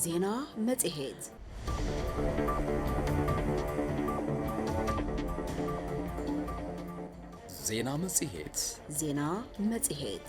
ዜና መጽሔት ዜና መጽሔት ዜና መጽሔት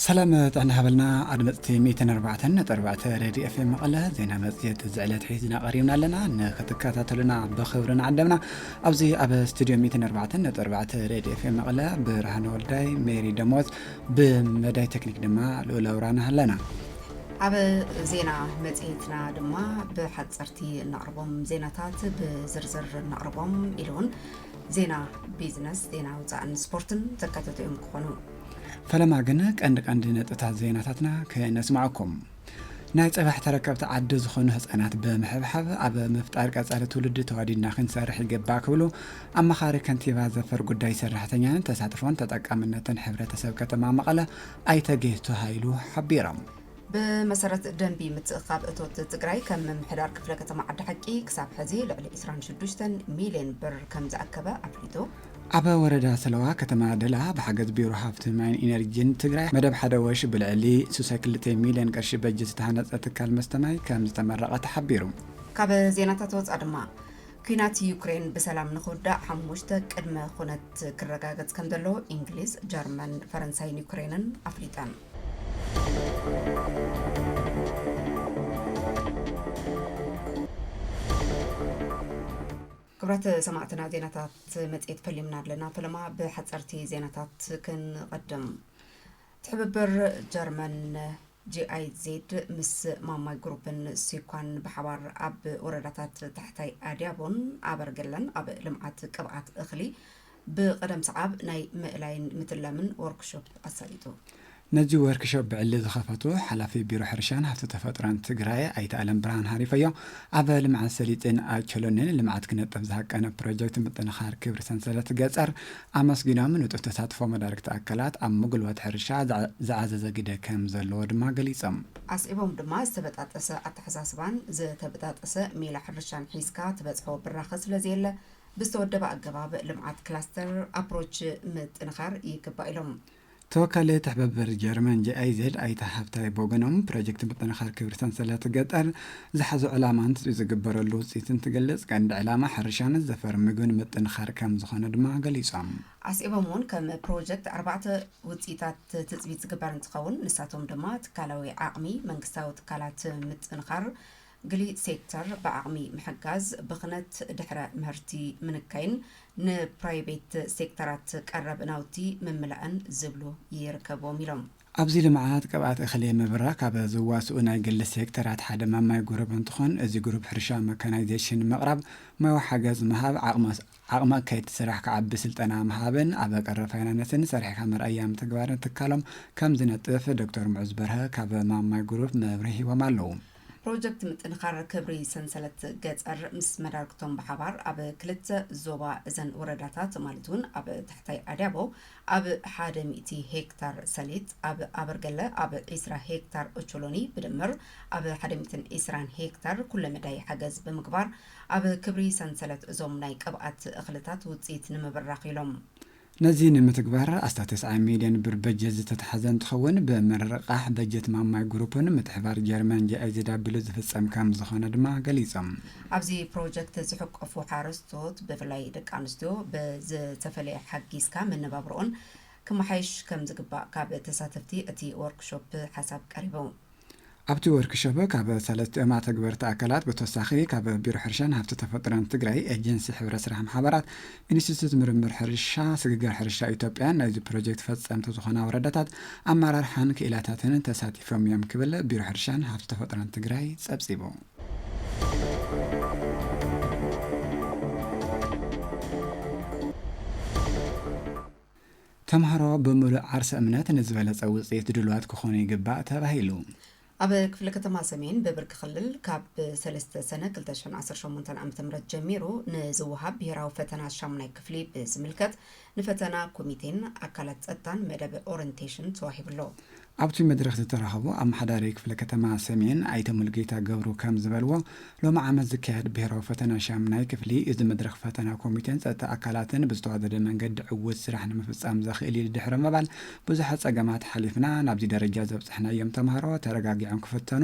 ሰላም ጥዕና ሃበልና ኣድመፅቲ ሚእትን ኣርባዕተን ነጥቢ ኣርባዕተ ሬድዮ ኤፍኤም መቐለ ዜና መፅሄት እዚ ዕለት ሒዝና ቀሪብና ኣለና ንክትከታተሉና ብክብሪ ንዓደምና ኣብዚ ኣብ ስቱድዮ ሚእትን ኣርባዕተን ነጥቢ ኣርባዕተ ሬድዮ ኤፍኤም መቐለ ብርሃነ ወልዳይ ሜሪ ደሞዝ ብመዳይ ቴክኒክ ድማ ልኡል ኣውራና ኣለና ኣብ ዜና መፅሄትና ድማ ብሓፀርቲ እነቕርቦም ዜናታት ብዝርዝር እነቕርቦም ኢሉ እውን ዜና ቢዝነስ፣ ዜና ወፃእን ስፖርትን ዘካተቱ እዮም ክኾኑ። ፈለማ ግን ቀንዲ ቀንዲ ነጥብታት ዜናታትና ክነስማዕኩም። ናይ ፀባሕ ተረከብቲ ዓዲ ዝኾኑ ህፃናት ብምሕብሓብ ኣብ ምፍጣር ቀፃሊ ትውልዲ ተዋዲድና ክንሰርሕ ይግባእ ክብሉ ኣማኻሪ ከንቲባ ዘፈር ጉዳይ ሰራሕተኛን ተሳትፎን ተጠቃምነትን ሕብረተሰብ ከተማ መቐለ ኣይተ ጌቱ ሃይሉ ሓቢሮም። ብመሰረት ደንቢ ምትእኽኻብ እቶት ትግራይ ከም ምምሕዳር ክፍለ ከተማ ዓዲ ሓቂ ክሳብ ሕዚ ልዕሊ ዕስራን ሽዱሽተን ሚልየን ብር ከምዝኣከበ ኣፍሊጡ። ኣብ ወረዳ ሰለዋ ከተማ ደላ ብሓገዝ ቢሮ ሃፍቲ ማይን ኢነርጂን ትግራይ መደብ ሓደ ወሽ ብልዕሊ ሱሰ ክልተ ሚልየን ቅርሺ በጅት ዝተሃነፀ ትካል መስተ ማይ ከምዝተመረቐ ተሓቢሩ። ካብ ዜናታት ወፃእ ድማ ኲናት ዩክሬን ብሰላም ንኽውዳእ ሓሙሽተ ቅድመ ኹነት ክረጋገፅ ከምዘለዎ ኢንግሊዝ፣ ጀርመን፣ ፈረንሳይን ዩክሬንን ኣፍሊጠን። ክብራት ሰማዕትና ዜናታት መጽሔት ፈሊምና ኣለና ፈለማ ብሓጸርቲ ዜናታት ክንቐድም ትሕብብር ጀርመን ጂኣይዜድ ምስ ማማይ ግሩፕን ሲኳን ብሓባር ኣብ ወረዳታት ታሕታይ ኣድያቦን ኣበርገለን ኣብ ልምዓት ቅብኣት እኽሊ ብቐደም ሰዓብ ናይ ምእላይን ምትላምን ዎርክሾፕ ኣሳሊጡ። ነዚ ዎርክሾፕ ብዕሊ ዝኸፈቱ ሓላፊ ቢሮ ሕርሻን ሃፍቲ ተፈጥሮን ትግራይ ኣይተ ኣለምብርሃን ሃሪፈዮ፣ ኣብ ልምዓት ሰሊጥን ኣቾሎኒን ልምዓት ክነጥፍ ዝሃቀነ ፕሮጀክት ምጥንኻር ክብሪ ሰንሰለት ገፀር ኣመስጊኖም፣ ንጡፍ ተሳትፎ መዳርግቲ ኣካላት ኣብ ምጉልባት ሕርሻ ዝዓዘዘ ግደ ከምዘለዎ ድማ ገሊፆም። ኣስዒቦም ድማ ዝተበጣጠሰ ኣተሓሳስባን ዝተበጣጠሰ ሜላ ሕርሻን ሒዝካ ትበፅሖ ብራኸ ስለዘየለ ብዝተወደበ ኣገባብ ልምዓት ክላስተር፣ ኣፕሮች፣ ምጥንኻር ይግባእ ኢሎም። ተወካሊ ትሕበብር ጀርመን GIZ ኣይተ ሃብታይ ብወገኖም፣ ፕሮጀክት ምጥንኻር ክብሪ ሰንሰለት ገጠር ዝሓዞ ዕላማ እንትፅቢት ዝግበረሉ ውፅኢት እንትግልፅ ቀንዲ ዕላማ ሕርሻን ዘፈር ምግብን ምጥንኻር ከምዝኾነ ድማ ገሊፆም። ኣስዒቦም እውን ከም ፕሮጀክት ኣርባዕተ ውፅኢታት ትፅቢት ዝግበር እንትኸውን ንሳቶም ድማ ትካላዊ ዓቕሚ መንግስታዊ ትካላት ምጥንኻር፣ ግሊ ሴክተር ብዓቕሚ ምሕጋዝ፣ ብኽነት ድሕረ ምህርቲ ምንካይን ንፕራይቤት ሴክተራት ቀረብ ናውቲ ምምላእን ዝብሉ ይርከብዎም ኢሎም። ኣብዚ ልምዓት ቅብኣት እኽሊ ምብራኽ ካብ ዝዋስኡ ናይ ግሊ ሴክተራት ሓደ ማማይ ጉሩብ እንትኾን እዚ ጉሩብ ሕርሻ መካናይዜሽን ምቕራብ፣ ሞያዊ ሓገዝ ምሃብ፣ ዓቕሚ ኣካየድቲ ስራሕ ክዓቢ ስልጠና ምሃብን ኣብ ቀረብ ፋይናነስን ሰሪሕካ መርኣያ ምትግባርን ትካሎም ከምዝነጥፍ ዶክተር ሙዑዝ በርሀ ካብ ማማይ ጉሩብ መብርሂ ሂቦም ኣለው። ፕሮጀክት ምጥንኻር ክብሪ ሰንሰለት ገፀር ምስ መዳርግቶም ብሓባር ኣብ ክልተ ዞባ እዘን ወረዳታት ማለት እውን ኣብ ታሕታይ ኣድያቦ ኣብ ሓደ ሚእቲ ሄክታር ሰሊጥ፣ ኣብ ኣበርገለ ኣብ ዒስራ ሄክታር ኦቾሎኒ ብድምር ኣብ ሓደ ሚእትን ዒስራን ሄክታር ኩለ መዳይ ሓገዝ ብምግባር ኣብ ክብሪ ሰንሰለት እዞም ናይ ቅብኣት እኽልታት ውፅኢት ንምብራኽ ኢሎም ነዚ ንምትግባር ኣስታት ተስዓይ ሚልዮን ብር በጀት ዝተትሓዘ እንትኸውን ብምርቕቓሕ በጀት ማማይ ግሩፕን ምትሕብባር ጀርመን JIZW ዝፍፀም ከምዝኾነ ድማ ገሊፆም። ኣብዚ ፕሮጀክት ዝሕቆፉ ሓረስቶት ብፍላይ ደቂ ኣንስትዮ ብዝተፈለየ ሓጊዝካ መነባብርኦን ክመሓየሽ ከምዝግባእ ካብ ተሳተፍቲ እቲ ዎርክሾፕ ሓሳብ ቀሪቡ። ኣብቲ ወርክሾፕ ካብ ሰለስቲኦም ኣተግበርቲ ኣካላት ብተወሳኺ ካብ ቢሮ ሕርሻን ሃፍቲ ተፈጥሮን ትግራይ፣ ኤጀንሲ ሕብረት ስራሕ ማሕበራት፣ ኢንስቲትዩት ምርምር ሕርሻ፣ ስግግር ሕርሻ ኢትዮጵያን ናይዚ ፕሮጀክት ፈፀምቲ ዝኾና ወረዳታት ኣመራርሓን ክኢላታትን ተሳቲፎም ኢዮም ክብል ቢሮ ሕርሻን ሃፍቲ ተፈጥሮን ትግራይ ፀብፂቡ። ተምሃሮ ብምሉእ ዓርሰ እምነት ንዝበለፀ ውፅኢት ድሉዋት ክኾኑ ይግባእ ተባሂሉ። ኣብ ክፍለ ከተማ ሰሜን ብብርኪ ክልል ካብ ሰለስተ ሰነ ክልተ ሽሕን ዓሰርተ ሸሞንተን ዓመተ ምህረት ጀሚሩ ንዝወሃብ ብሄራዊ ፈተና ሻሙናይ ክፍሊ ብዝምልከት ንፈተና ኮሚቴን ኣካላት ፀጥታን መደብ ኦረንቴሽን ተዋሂቡ ኣሎ። ኣብቲ መድረኽ ዝተረኸቡ ኣመሓዳሪ ክፍለ ከተማ ሰሜን ኣይተ ሙሉጌታ ገብሩ ከም ዝበልዎ፣ ሎሚ ዓመት ዝካየድ ብሄራዊ ፈተና ሻምናይ ክፍሊ እዚ መድረኽ ፈተና ኮሚቴን ፀጥታ ኣካላትን ብዝተዋደደ መንገዲ ዕዉት ስራሕ ንምፍፃም ዘኽእል እዩ ድሕሪ ምባል ብዙሓት ፀገማት ሓሊፍና ናብዚ ደረጃ ዘብፅሕናዮም ተምሃሮ ተረጋጊዖም ክፍተኑ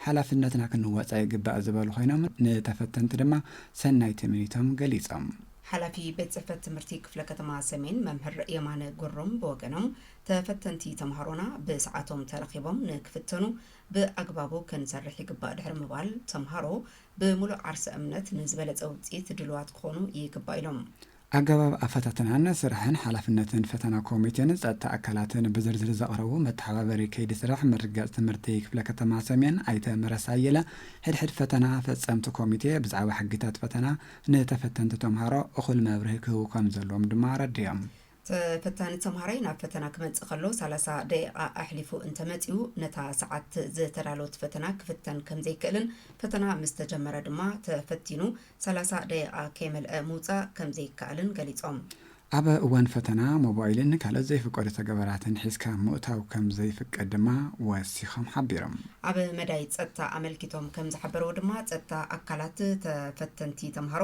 ሓላፍነትና ክንወፃ ይግባእ ዝበሉ ኮይኖም ንተፈተንቲ ድማ ሰናይ ትምኒቶም ገሊፆም። ሓላፊ ቤት ፅሕፈት ትምህርቲ ክፍለ ከተማ ሰሜን መምህር የማነ ጉሩም ብወገኖም ተፈተንቲ ተምሃሮና ብሰዓቶም ተረኺቦም ንክፍተኑ ብኣግባቡ ክንሰርሕ ይግባእ ድሕሪ ምባል፣ ተምሃሮ ብምሉእ ዓርሰ እምነት ንዝበለፀ ውፅኢት ድሉዋት ክኾኑ ይግባእ ኢሎም። ኣገባብ ኣፈታትናን ስራሕን ሓላፍነትን ፈተና ኮሚቴን ፀጥታ ኣካላትን ብዝርዝር ዘቕረቡ መተሓባበሪ ከይዲ ስራሕ ምርግጋፅ ትምህርቲ ክፍለ ከተማ ሰሜን ኣይተ መረሳ ኣየለ ሕድ ሕድ ፈተና ፈፀምቲ ኮሚቴ ብዛዕባ ሕጊታት ፈተና ንተፈተንቲ ተምሃሮ እኹል መብርሂ ክህቡ ከምዘለዎም ድማ ኣረዲኦም። ተፈታኒ ተምሃራይ ናብ ፈተና ክመጽእ ከሎ ሰላሳ ደቂቓ ኣሕሊፉ እንተመጺኡ ነታ ሰዓት ዝተዳለወት ፈተና ክፍተን ከምዘይክእልን ፈተና ምስ ተጀመረ ድማ ተፈቲኑ ሰላሳ ደቂቓ ከይመልአ ምውጻእ ከምዘይከኣልን ገሊጾም። ኣብ እዋን ፈተና ሞባይልን ካልኦት ዘይፍቀዱ ተገበራትን ሒዝካ ምእታው ከምዘይፍቀድ ድማ ወሲኾም ሓቢሮም። ኣብ መዳይ ጸጥታ ኣመልኪቶም ከምዝሓበርዎ ድማ ጸጥታ ኣካላት ተፈተንቲ ተምሃሮ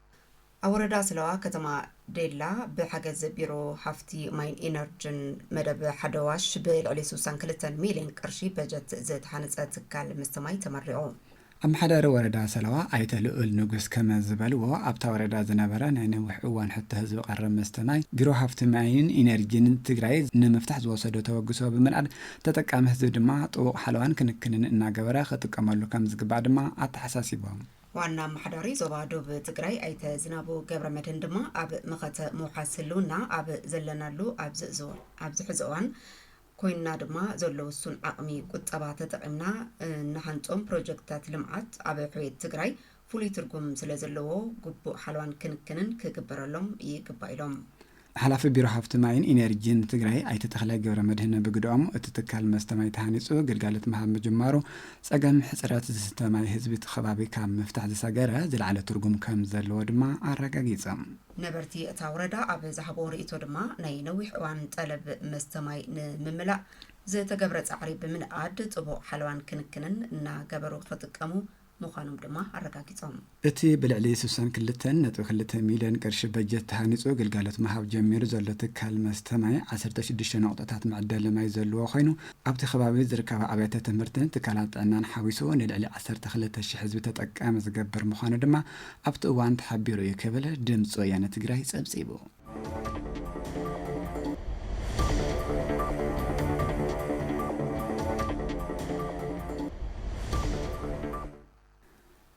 ኣብ ወረዳ ስለዋ ከተማ ዴላ ብሓገዝ ቢሮ ሃፍቲ ማይን ኢነርጅን መደብ ሓደ ዋሽ ብልዕሊ ስሳን ክልተን ሚሊየን ቅርሺ በጀት ዝተሃነፀ ትካል መስተ ማይ ተመሪቑ። ኣመሓዳሪ ወረዳ ሰለዋ ኣይተ ልኡል ንጉስ ከመ ዝበልዎ፣ ኣብታ ወረዳ ዝነበረ ናይ ነዊሕ እዋን ሕቶ ህዝቢ ቀረብ መስተ ማይ ቢሮ ሃፍቲ ማይን ኢነርጂን ትግራይ ንምፍታሕ ዝወሰዶ ተበግሶ ብምንኣድ ተጠቃሚ ህዝቢ ድማ ጥቡቕ ሓለዋን ክንክንን እናገበረ ክጥቀመሉ ከምዝግባእ ድማ ኣተሓሳሲቦም። ዋና ኣመሓዳሪ ዞባ ዶብ ትግራይ ኣይተ ዝናቡ ገብረመድህን ድማ ኣብ መኸተ ምውሓስ ህልውና ኣብ ዘለናሉ ኣብዚ ኣብዚ ሕዚ እዋን ኮይንና ድማ ዘሎ ውሱን ዓቕሚ ቁጠባ ተጠቒምና እንሃንፆም ፕሮጀክትታት ልምዓት ኣብ ሕውየት ትግራይ ፍሉይ ትርጉም ስለዘለዎ ግቡእ ሓልዋን ክንክንን ክግበረሎም ይግባእ ኢሎም። ሓላፊ ቢሮ ሃፍቲ ማይን ኢነርጂን ትግራይ ኣይተ ተኽላይ ገብረመድህን ብግደኦም፣ እቲ ትካል መስተ ማይ ተሃኒፁ ግልጋሎት ምሃብ ምጅማሩ ፀገም ሕፅረት ዝስተ ማይ ህዝቢ እቲ ከባቢ ካብ ምፍታሕ ዝሰገረ ዝለዓለ ትርጉም ከምዘለዎ ድማ ኣረጋጊፆም። ነበርቲ እታ ወረዳ ኣብ ዝሃብዎ ርኢቶ ድማ፣ ናይ ነዊሕ እዋን ጠለብ መስተ ማይ ንምምላእ ዝተገብረ ፃዕሪ ብምንኣድ ጥቡቕ ሓለዋን ክንክንን እናገበሩ ክጥቀሙ ምዃኖም ድማ ኣረጋጊፆም። እቲ ብልዕሊ ስሳን ክልተን ነጥቢ ክልተ ሚሊየን ቅርሺ በጀት ተሃኒፁ ግልጋሎት ምሃብ ጀሚሩ ዘሎ ትካል መስተ ማይ ዓሰርተ ሽዱሽተ ነቑጣታት መዐደሊ ማይ ዘለዎ ኾይኑ ኣብቲ ኸባቢ ዝርከባ ኣብያተ ትምህርትን ትካላት ጥዕናን ሓዊሱ ንልዕሊ ዓሰርተ ክልተ ሽሕ ህዝቢ ተጠቃሚ ዝገብር ምዃኑ ድማ ኣብቲ እዋን ተሓቢሩ እዩ ክብል ድምፂ ወያነ ትግራይ ፀብፂቡ።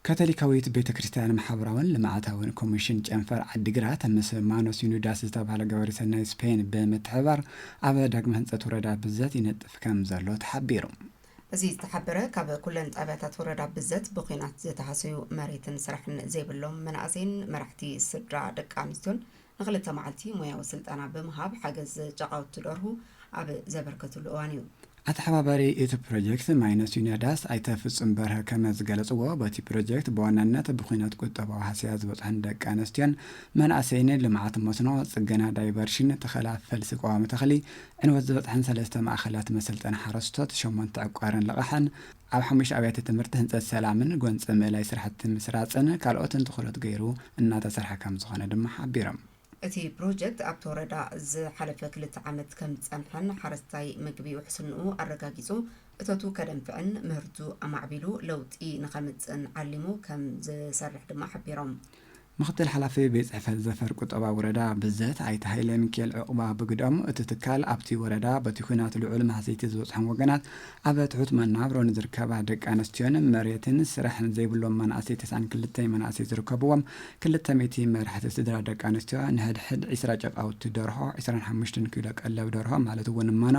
ካቶሊካዊት ቤተ ክርስቲያን ማሕበራውን ልምዓታውን ኮሚሽን ጨንፈር ዓዲግራት ምስ ማኖስ ዩኒዳስ ዝተባህለ ገበሪ ሰናይ ስፔን ብምትሕብባር ኣብ ዳግመ ህንፀት ወረዳ ብዘት ይነጥፍ ከም ዘሎ ተሓቢሩ። እዚ ዝተሓበረ ካብ ኩለን ጣብያታት ወረዳ ብዘት ብኩናት ዝተሃሰዩ መሬትን ስራሕን ዘይብሎም መናእሰይን መራሕቲ ስድራ ደቂ ኣንስትዮን ንክልተ መዓልቲ ሞያዊ ስልጠና ብምሃብ ሓገዝ ጨቃውቲ ደርሁ ኣብ ዘበርከትሉ እዋን እዩ። ኣተሓባባሪ እቲ ፕሮጀክት ማይነስ ዩኒያዳስ ኣይተ ፍፁም በርሀ ከመ ዝገለፅዎ በቲ ፕሮጀክት ብዋናነት ብኩነት ቁጠባዊ ሃሰያ ዝበፅሐን ደቂ ኣነስትዮን መናእሰይን ልምዓት መስኖ፣ ፅገና ዳይቨርሽን፣ ተኸላ ፈልሲ ቀዋሚ ተኽሊ፣ ዕንወት ዝበፅሐን ሰለስተ ማእኸላት መሰልጠኒ ሓረስቶት፣ ሸሞንተ ዕቋርን ልቓሕን፣ ኣብ ሓሙሽተ ኣብያተ ትምህርቲ ህንፀት ሰላምን ጎንፂ ምእላይ ስራሕቲ ምስራፅን ካልኦትን ትኹረት ገይሩ እናተሰርሐ ከምዝኾነ ድማ ሓቢሮም። እቲ ፕሮጀክት ኣብቲ ወረዳ ዝሓለፈ ክልተ ዓመት ከምዝፀንሐን ሓረስታይ ምግቢ ውሕስንኡ ኣረጋጊፁ እቶቱ ከደንፍዕን ምህርቱ ኣማዕቢሉ ለውጢ ንከምፅእን ዓሊሙ ከምዝሰርሕ ድማ ሓቢሮም። ምክትል ሓላፊ ቤት ፅሕፈት ዘፈር ቁጠባ ወረዳ ብዘት ኣይተ ሃይለሚኪኤል ዑቕባ ብግደኦም፣ እቲ ትካል ኣብቲ ወረዳ በቲ ኹናት ልዑል ማህሰይቲ ዝበፅሖም ወገናት ኣብ ትሑት መናብሮ ንዝርከባ ደቂ ኣነስትዮን መሬትን ስራሕን ዘይብሎም መናእሰይ ተስዓን ክልተይ መናእሰይ ዝርከብዎም ክልተ ሚእቲ መራሕቲ ስድራ ደቂ ኣነስትዮ ንሕድሕድ ዒስራ ጨቓውቲ ደርሆ ዕስራን ሓሙሽተን ኪሎ ቀለብ ደርሆ ማለት እውን መኖ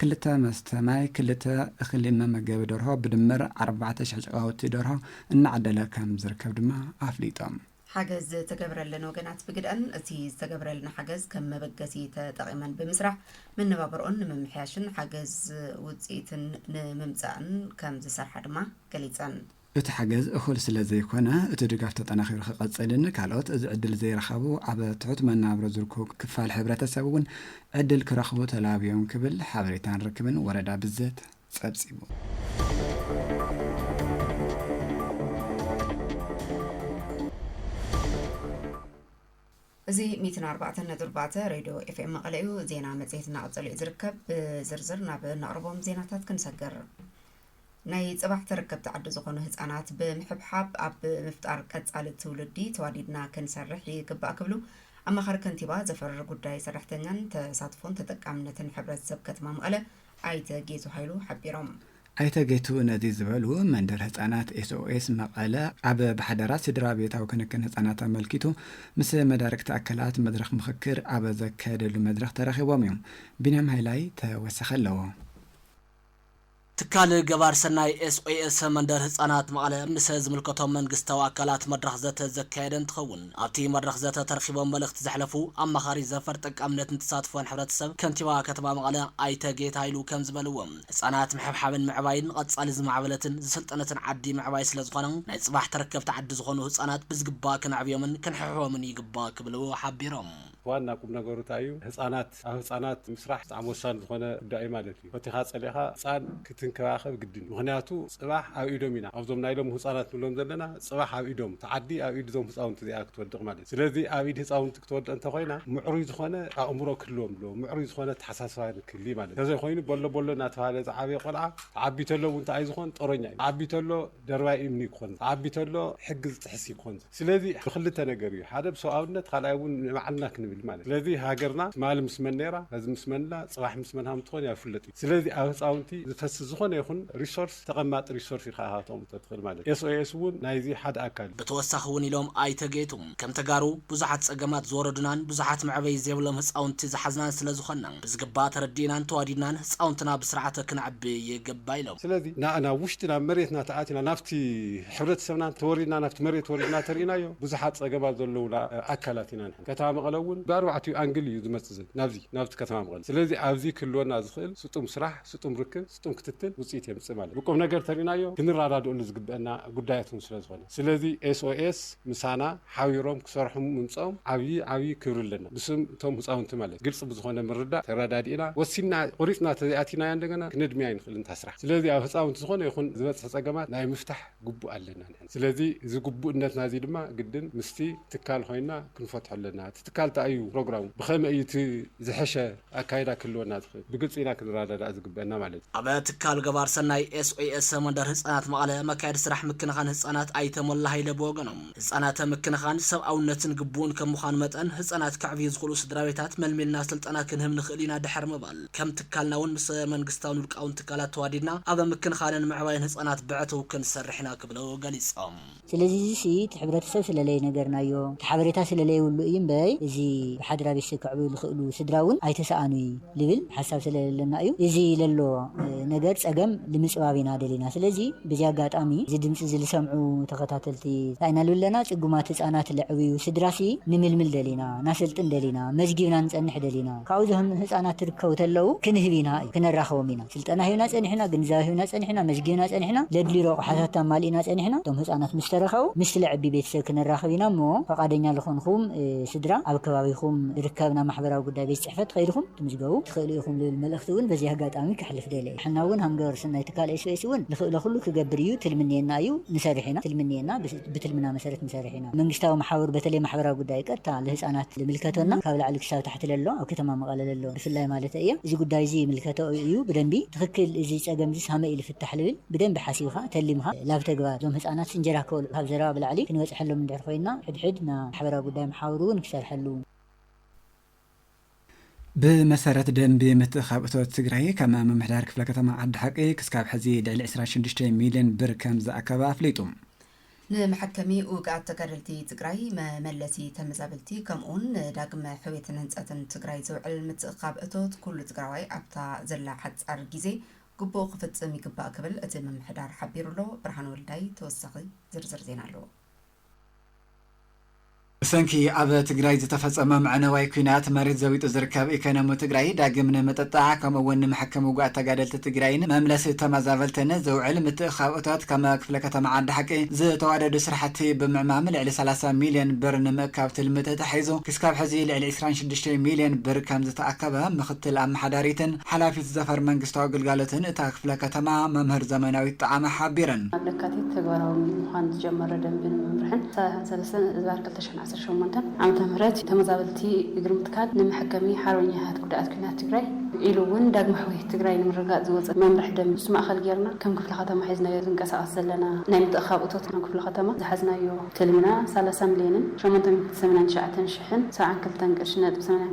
ክልተ መስተ ማይ ክልተ እኽሊ መመገቢ ደርሆ ብድምር ኣርባዕተ ሽሕ ጨቓውቲ ደርሆ እናዕደለ ከም ዝርከብ ድማ ኣፍሊጦም። ሓገዝ ዝተገብረለን ወገናት ብግደኣን እቲ ዝተገብረልና ሓገዝ ከም መበገሲ ተጠቒመን ብምስራሕ መነባብርኦን ንምምሕያሽን ሓገዝ ውፅኢትን ንምምፃእን ከም ዝሰርሓ ድማ ገሊፀን። እቲ ሓገዝ እኹል ስለ ዘይኮነ እቲ ድጋፍ ተጠናኺሩ ክቐፅልን ካልኦት እዚ ዕድል ዘይረኸቡ ኣብ ትሑት መነባብሮ ዝርከቡ ክፋል ሕብረተሰብ እውን ዕድል ክረኽቡ ተላብዮም ክብል ሓበሬታን ርክብን ወረዳ ብዘት ፀብፂቡ። እዚ ሚእትን ኣርባዕተን ነጥቢ ኣርባዕተ ሬድዮ ኤፍኤም መቐለ እዩ። ዜና መጽሔት እናቐጸለ እዩ ዝርከብ። ብዝርዝር ናብ እነቕርቦም ዜናታት ክንሰግር ናይ ጽባሕ ተረከብቲ ዓዲ ዝኾኑ ህጻናት ብምሕብሓብ ኣብ ምፍጣር ቀጻሊ ትውልዲ ተዋዲድና ክንሰርሕ ይግባእ ክብሉ ኣማኻሪ ከንቲባ ዘፈር ጉዳይ ሰራሕተኛን ተሳትፎን ተጠቃምነትን ሕብረተሰብ ከተማ መቐለ ኣይተ ጌቱ ሃይሉ ሓቢሮም። ኣይተ ጌቱ ነዚ ዝበሉ፣ መንደር ህፃናት ኤስኦኤስ መቐለ ኣብ ብሓደራ ስድራቤታዊ ክንክን ህፃናት ኣመልኪቱ ምስ መዳርግቲ ኣካላት መድረኽ ምኽክር ኣብ ዘካየደሉ መድረኽ ተረኺቦም እዮም። ቢንያም ሃይላይ ተወሳኺ ኣለዎ። ትካል ገባር ሰናይ ኤስኦኤስ መንደር ህፃናት መቐለ ምስ ዝምልከቶም መንግስታዊ ኣካላት መድረኽ ዘተ ዘካየደ እንትኸውን፣ ኣብቲ መድረኽ ዘተ ተረኺቦም መልእኽቲ ዘሕለፉ ኣማኻሪ ዘፈር ጠቃምነትን ተሳትፎን ሕብረተሰብ ከንቲባ ከተማ መቐለ ኣይተ ጌታ ሃይሉ ከምዝበልዎ፣ ህፃናት ምሕብሓብን ምዕባይን ንቐፃሊ ዝማዕበለትን ዝሰልጠነትን ዓዲ ምዕባይ ስለዝኾነ ናይ ፅባሕ ተረከብቲ ዓዲ ዝኾኑ ህፃናት ብዝግባእ ከነዕብዮምን ክንሕብሕቦምን ይግባእ ክብሉ ሓቢሮም። ዋና ቁምነገሩ ታይ እዩ? ህፃናት ህጻናት ኣብ ህጻናት ምስራሕ ብጣዕሚ ወሳኒ ዝኾነ ጉዳይ እዩ ማለት እዩ። ፈቲኻ ጸሊእኻ ህጻን ክትንከባኸብ ግድን እዩ። ምኽንያቱ ጽባሕ ኣብ ኢዶም ኢና ኣብዞም ናይ ሎሚ ህጻናት ንብሎም ዘለና ጽባሕ ኣብ ኢዶም እታ ዓዲ ኣብ ኢድ እዞም ህጻውንቲ እዚኣ ክትወድቕ ማለት እዩ። ስለዚ ኣብ ኢድ ህጻውንቲ ክትወድቕ እንተኾይና ምዕሩይ ዝኾነ ኣእምሮ ክህልዎም ኣለዎ። ምዕሩይ ዝኾነ ኣተሓሳስባ ክህሊ ማለት እዩ። እንተዘይኾይኑ በሎ በሎ እናተባህለ ዝዓበየ ቆልዓ ክዓቢ ተሎ እውን እንታይ እዩ ዝኾን ጦረኛ እዩ። ክዓቢ ተሎ ደርባይ እምኒ ክኾን ዝዓቢ ተሎ ሕጊ ዝጥሕስ እዩ ክኾን። ስለዚ ብክልተ ነገር እዩ ሓደ ብሰብኣውነት ካልኣይ እውን ንባዕልና ክንብል ማለት እዩ። ስለዚ ሃገርና ትማሊ ምስ መን ነይራ ሐዚ ምስ መን ኣላ ፅባሕ ምስ መን ሃምትኾን እያ ኣይፍለጥ እዩ። ስለዚ ኣብ ህፃውንቲ ዝፈስስ ዝኾነ ይኹን ሪሶርስ ተቐማጢ ሪሶርስ ኢኻ ሃብቶምም ተትኽእል ማለት እዩ። SOS እውን ናይዚ ሓደ ኣካል እዩ። ብተወሳኺ እውን ኢሎም ኣይተ ጌቱ፣ ከም ተጋሩ ብዙሓት ፀገማት ዝወረዱናን ብዙሓት መዕበዪ ዘይብሎም ህፃውንቲ ዝሓዝናን ስለዝኾንና ብዝግባእ ተረዲእናን ተዋዲድናን ህፃውንትና ብስርዓተ ክነዕቢ ይግባእ ኢሎም። ስለዚ ንኣ ናብ ውሽጢ ናብ መሬትና ተኣቲና ናብቲ ሕብረተሰብና ተወሪድና ናብቲ መሬት ወሪድና ተሪእናዮ ብዙሓት ፀገማት ዘለዉና ኣካላት ኢና ንሕና። ከተማ መቐለ እውን ብኣርባዕቲኡ ኣንግል እዩ ዝመፅእ ናብዚ ናብቲ ከተማ መቐለ። ስለዚ ኣብዚ ክህልወና ዝኽእል ስጡም ስራሕ፣ ስጡም ርክብ፣ ስጡም ክትትል ውፅኢት የምፅእ ማለት ብቁምነገር ተሪእናዮ ክንረዳድእሉ ዝግበእና ጉዳያት እውን ስለዝኾነ ስለዚ SOS ምሳና ሓቢሮም ክሰርሑ ምምፀኦም ዓብዪ ዓብዪ ክብሪ ኣለና ብስም እቶም ህፃውንቲ ማለት ግልፂ ብዝኾነ ምርዳእ ተረዳዲእና ወሲንና ቆሪፅና ተዘይኣቲናያ እንደገና ክነድምያ ኣይንኽእልን እታ ስራሕ ስለዚ ኣብ ህፃውንቲ ዝኾነ ይኹን ዝበፅሕ ፀገማት ናይ ምፍታሕ ግቡእ ኣለና ንሕና። ስለዚ እዚ ግቡእነትና እዚ ድማ ግድን ምስቲ ትካል ኮይና ክንፈትሖ ኣለና። እቲ ትካል እንታይ እዩ ፕሮግራሙ፣ ብኸመይ እዩ እቲ ዝሐሸ ኣካይዳ ክህልወና ዝኽእል፣ ብግልፂ ኢና ክንረዳዳእ ዝግበእና ማለት እዩ። ኣብ ትካል ገባር ሰናይ፣ SOS፣ መንደር ህፃናት መቐለ መካየዲ ስራሕ ምክንኻን ህፃናት ኣይተ ሞላ ሃይለ ብወገኖም፣ ህጻናተ ምክንኻን ሰብኣውነትን ግቡእን ከም ምዃኑ መጠን ህጻናት ከዕብዩ ዝኽእሉ ስድራቤታት መልሚልና ስልጠና ክንህብ ንኽእል ኢና ድሕሪ ምባል ከም ትካልና'ውን ምስ መንግስታውን ውልቃውን ትካላት ተዋዲድና ኣብ ምክንኻንን ምዕባይን ህጻናት ብዕቱብ ክንሰርሕ ኢና ክብሉ ገሊጾም። ስለዚ እዚሲ እቲ ሕብረተሰብ ስለለይነገርናዮ እቲ ሓበሬታ ስለለይብሉ እዩ'ምበይ እዚ ብሓድራ ቤተሰብ ከዕብዩ ዝኽእሉ ስድራ'ውን ኣይተሰኣኑይ። ልብል ሓሳብ ስለለለና እዩ እዚ ለሎ ነገር ጸገም ልምጽባብ ኢና ደሊና ስለዚ በዚ ኣጋጣሚ እዚ ድምጺ እዚ ልሰምዑ ተኸታተልቲ ታይ ኢና ልብለና ጽጉማት ህጻናት ለዕብዩ ስድራሲ ንምልምል ደሊና ናሰልጥን ደሊና መዝጊብና ንጸንሕ ደሊና ካብኡ ዞም ህጻናት ትርከቡ ተለዉ ክንህብ ኢና እዩ ክነራኽቦም ኢና ስልጠና ሂብና ጸኒሕና ግንዛበ ሂብና ጸኒሕና መዝጊብና ጸኒሕና ለድልዩ ረቑሓታት ኣማሊእና ጸኒሕና እቶም ህጻናት ምስ ተረከቡ ምስ ለዕቢ ቤተሰብ ክንራኽብ ኢና እሞ ፈቓደኛ ልኾንኹም ስድራ ኣብ ከባቢኹም ልርከብ ናብ ማሕበራዊ ጉዳይ ቤት ጽሕፈት ከይድኹም ትምዝገቡ ትኽእሉ ኢኹም ልብል መልእኽቲ እውን በዚ ኣጋጣሚ ከሕልፍ ደልየ። ንሕና እውን ሃምገበር ሰናይ ትካል ኤስቢኤስ እውን ልኽእሎ ኩሉ ክገብር እዩ ትልምንየና እዩ ንሰርሕ ኢና ትልምንየና ብትልምና መሰረት ንሰርሕ ኢና መንግስታዊ መሓውር በተለይ ማሕበራዊ ጉዳይ ቀጥታ ልህጻናት ልምልከቶና ካብ ላዕሊ ክሳብ ታሕቲ ለሎ ኣብ ከተማ መቐለ ለሎ ብፍላይ ማለተይ እየ እዚ ጉዳይ እዚ ይምልከቶ እዩ ብደንቢ ትኽክል እዚ ጸገም እዚስ ሃመይ እዩ ልፍታሕ ልብል ብደንቢ ሓሲብኻ ተሊምኻ ላብ ተግባር እዞም ህጻናትስ እንጀራ ክበልኡ ካብ ዘረባ ብላዕሊ ክንበጽሐሎም እንድሕር ኮይና ሕድሕድ ና ማሕበራዊ ጉዳይ መሓውር እውን ክሰርሐሉ ብመሰረት ደንቢ ምትእኻብ እቶት ትግራይ ከም ምምሕዳር ክፍለ ከተማ ዓዲ ሓቂ ክስካብ ሕዚ ልዕሊ ዕስራን ሽዱሽተን ሚሊየን ብር ከም ዝኣከበ ኣፍሊጡ። ንመሐከሚ ውግኣት ተጋደልቲ ትግራይ፣ መመለሲ ተመዛበልቲ ከምኡ ውን ንዳግመ ሕውየትን ህንፀትን ትግራይ ዝውዕል ምትእኻብ እቶት ኩሉ ትግራዋይ ኣብታ ዘላ ሓፃር ጊዜ ግቡኡ ክፍፅም ይግባእ ክብል እቲ ምምሕዳር ሓቢሩ'ሎ። ብርሃን ወልዳይ ተወሳኺ ዝርዝር ዜና ኣለዎ። ብሰንኪ ኣብ ትግራይ ዝተፈፀመ መዕነዋይ ኲናት መሬት ዘቢጡ ዝርከብ ኢኮኖሚ ትግራይ ዳግም ንምጥጣዕ ከምኡ እውን ንመሐከሚ ውጉኣት ተጋደልቲ ትግራይን መምለሲ ተመዛበልትን ዝውዕል ምትእኽኻብ እቶት ከመ ክፍለ ከተማ ዓዲ ሓቂ ዝተዋደዱ ስራሕቲ ብምዕማም ልዕሊ ሰላሳ ሚሊየን ብር ንምእካብ ትልሚ ተታሒዙ ክስካብ ሕዚ ልዕሊ ዕስራን ሽዱሽተን ሚሊየን ብር ከምዝተኣከበ ምኽትል ኣመሓዳሪትን ሓላፊት ዘፈር መንግስታዊ ግልጋሎትን እታ ክፍለ ከተማ መምህር ዘመናዊት ጠዓመ ሓቢረን። ኣብ ለካቲት ተግባራዊ ምዃን ዝጀመረ ደንብን መምርሕን ሰላሳን ሰለስተን እዝባር ክልተ ሽሕን ዓሰርተ ሸሞንተን ዓመተ ምህረት ተመዛበልቲ እግሪ ምትካል ንመሐከሚ ሓርበኛታት ጉዳኣት ኲናት ትግራይ ኢሉ እውን ዳግመ ሕውየት ትግራይ ንምርግጋፅ ዝወፀ መምርሒ ደንቢ ንሱ ማእኸል ገይርና ከም ክፍለ ከተማ ሒዝናዮ ዝንቀሳቐስ ዘለና ናይ ምትእኽኻብ እቶት ከም ክፍለ ከተማ ዝሓዝናዮ ትልምና ሰላሳ ሚሊየንን ሸሞንተ ሚእትን ሰማንያን ትሽዓተን ሽሕን ሰብዓን ክልተን ቅርሺ ነጥቢ ሰማንያን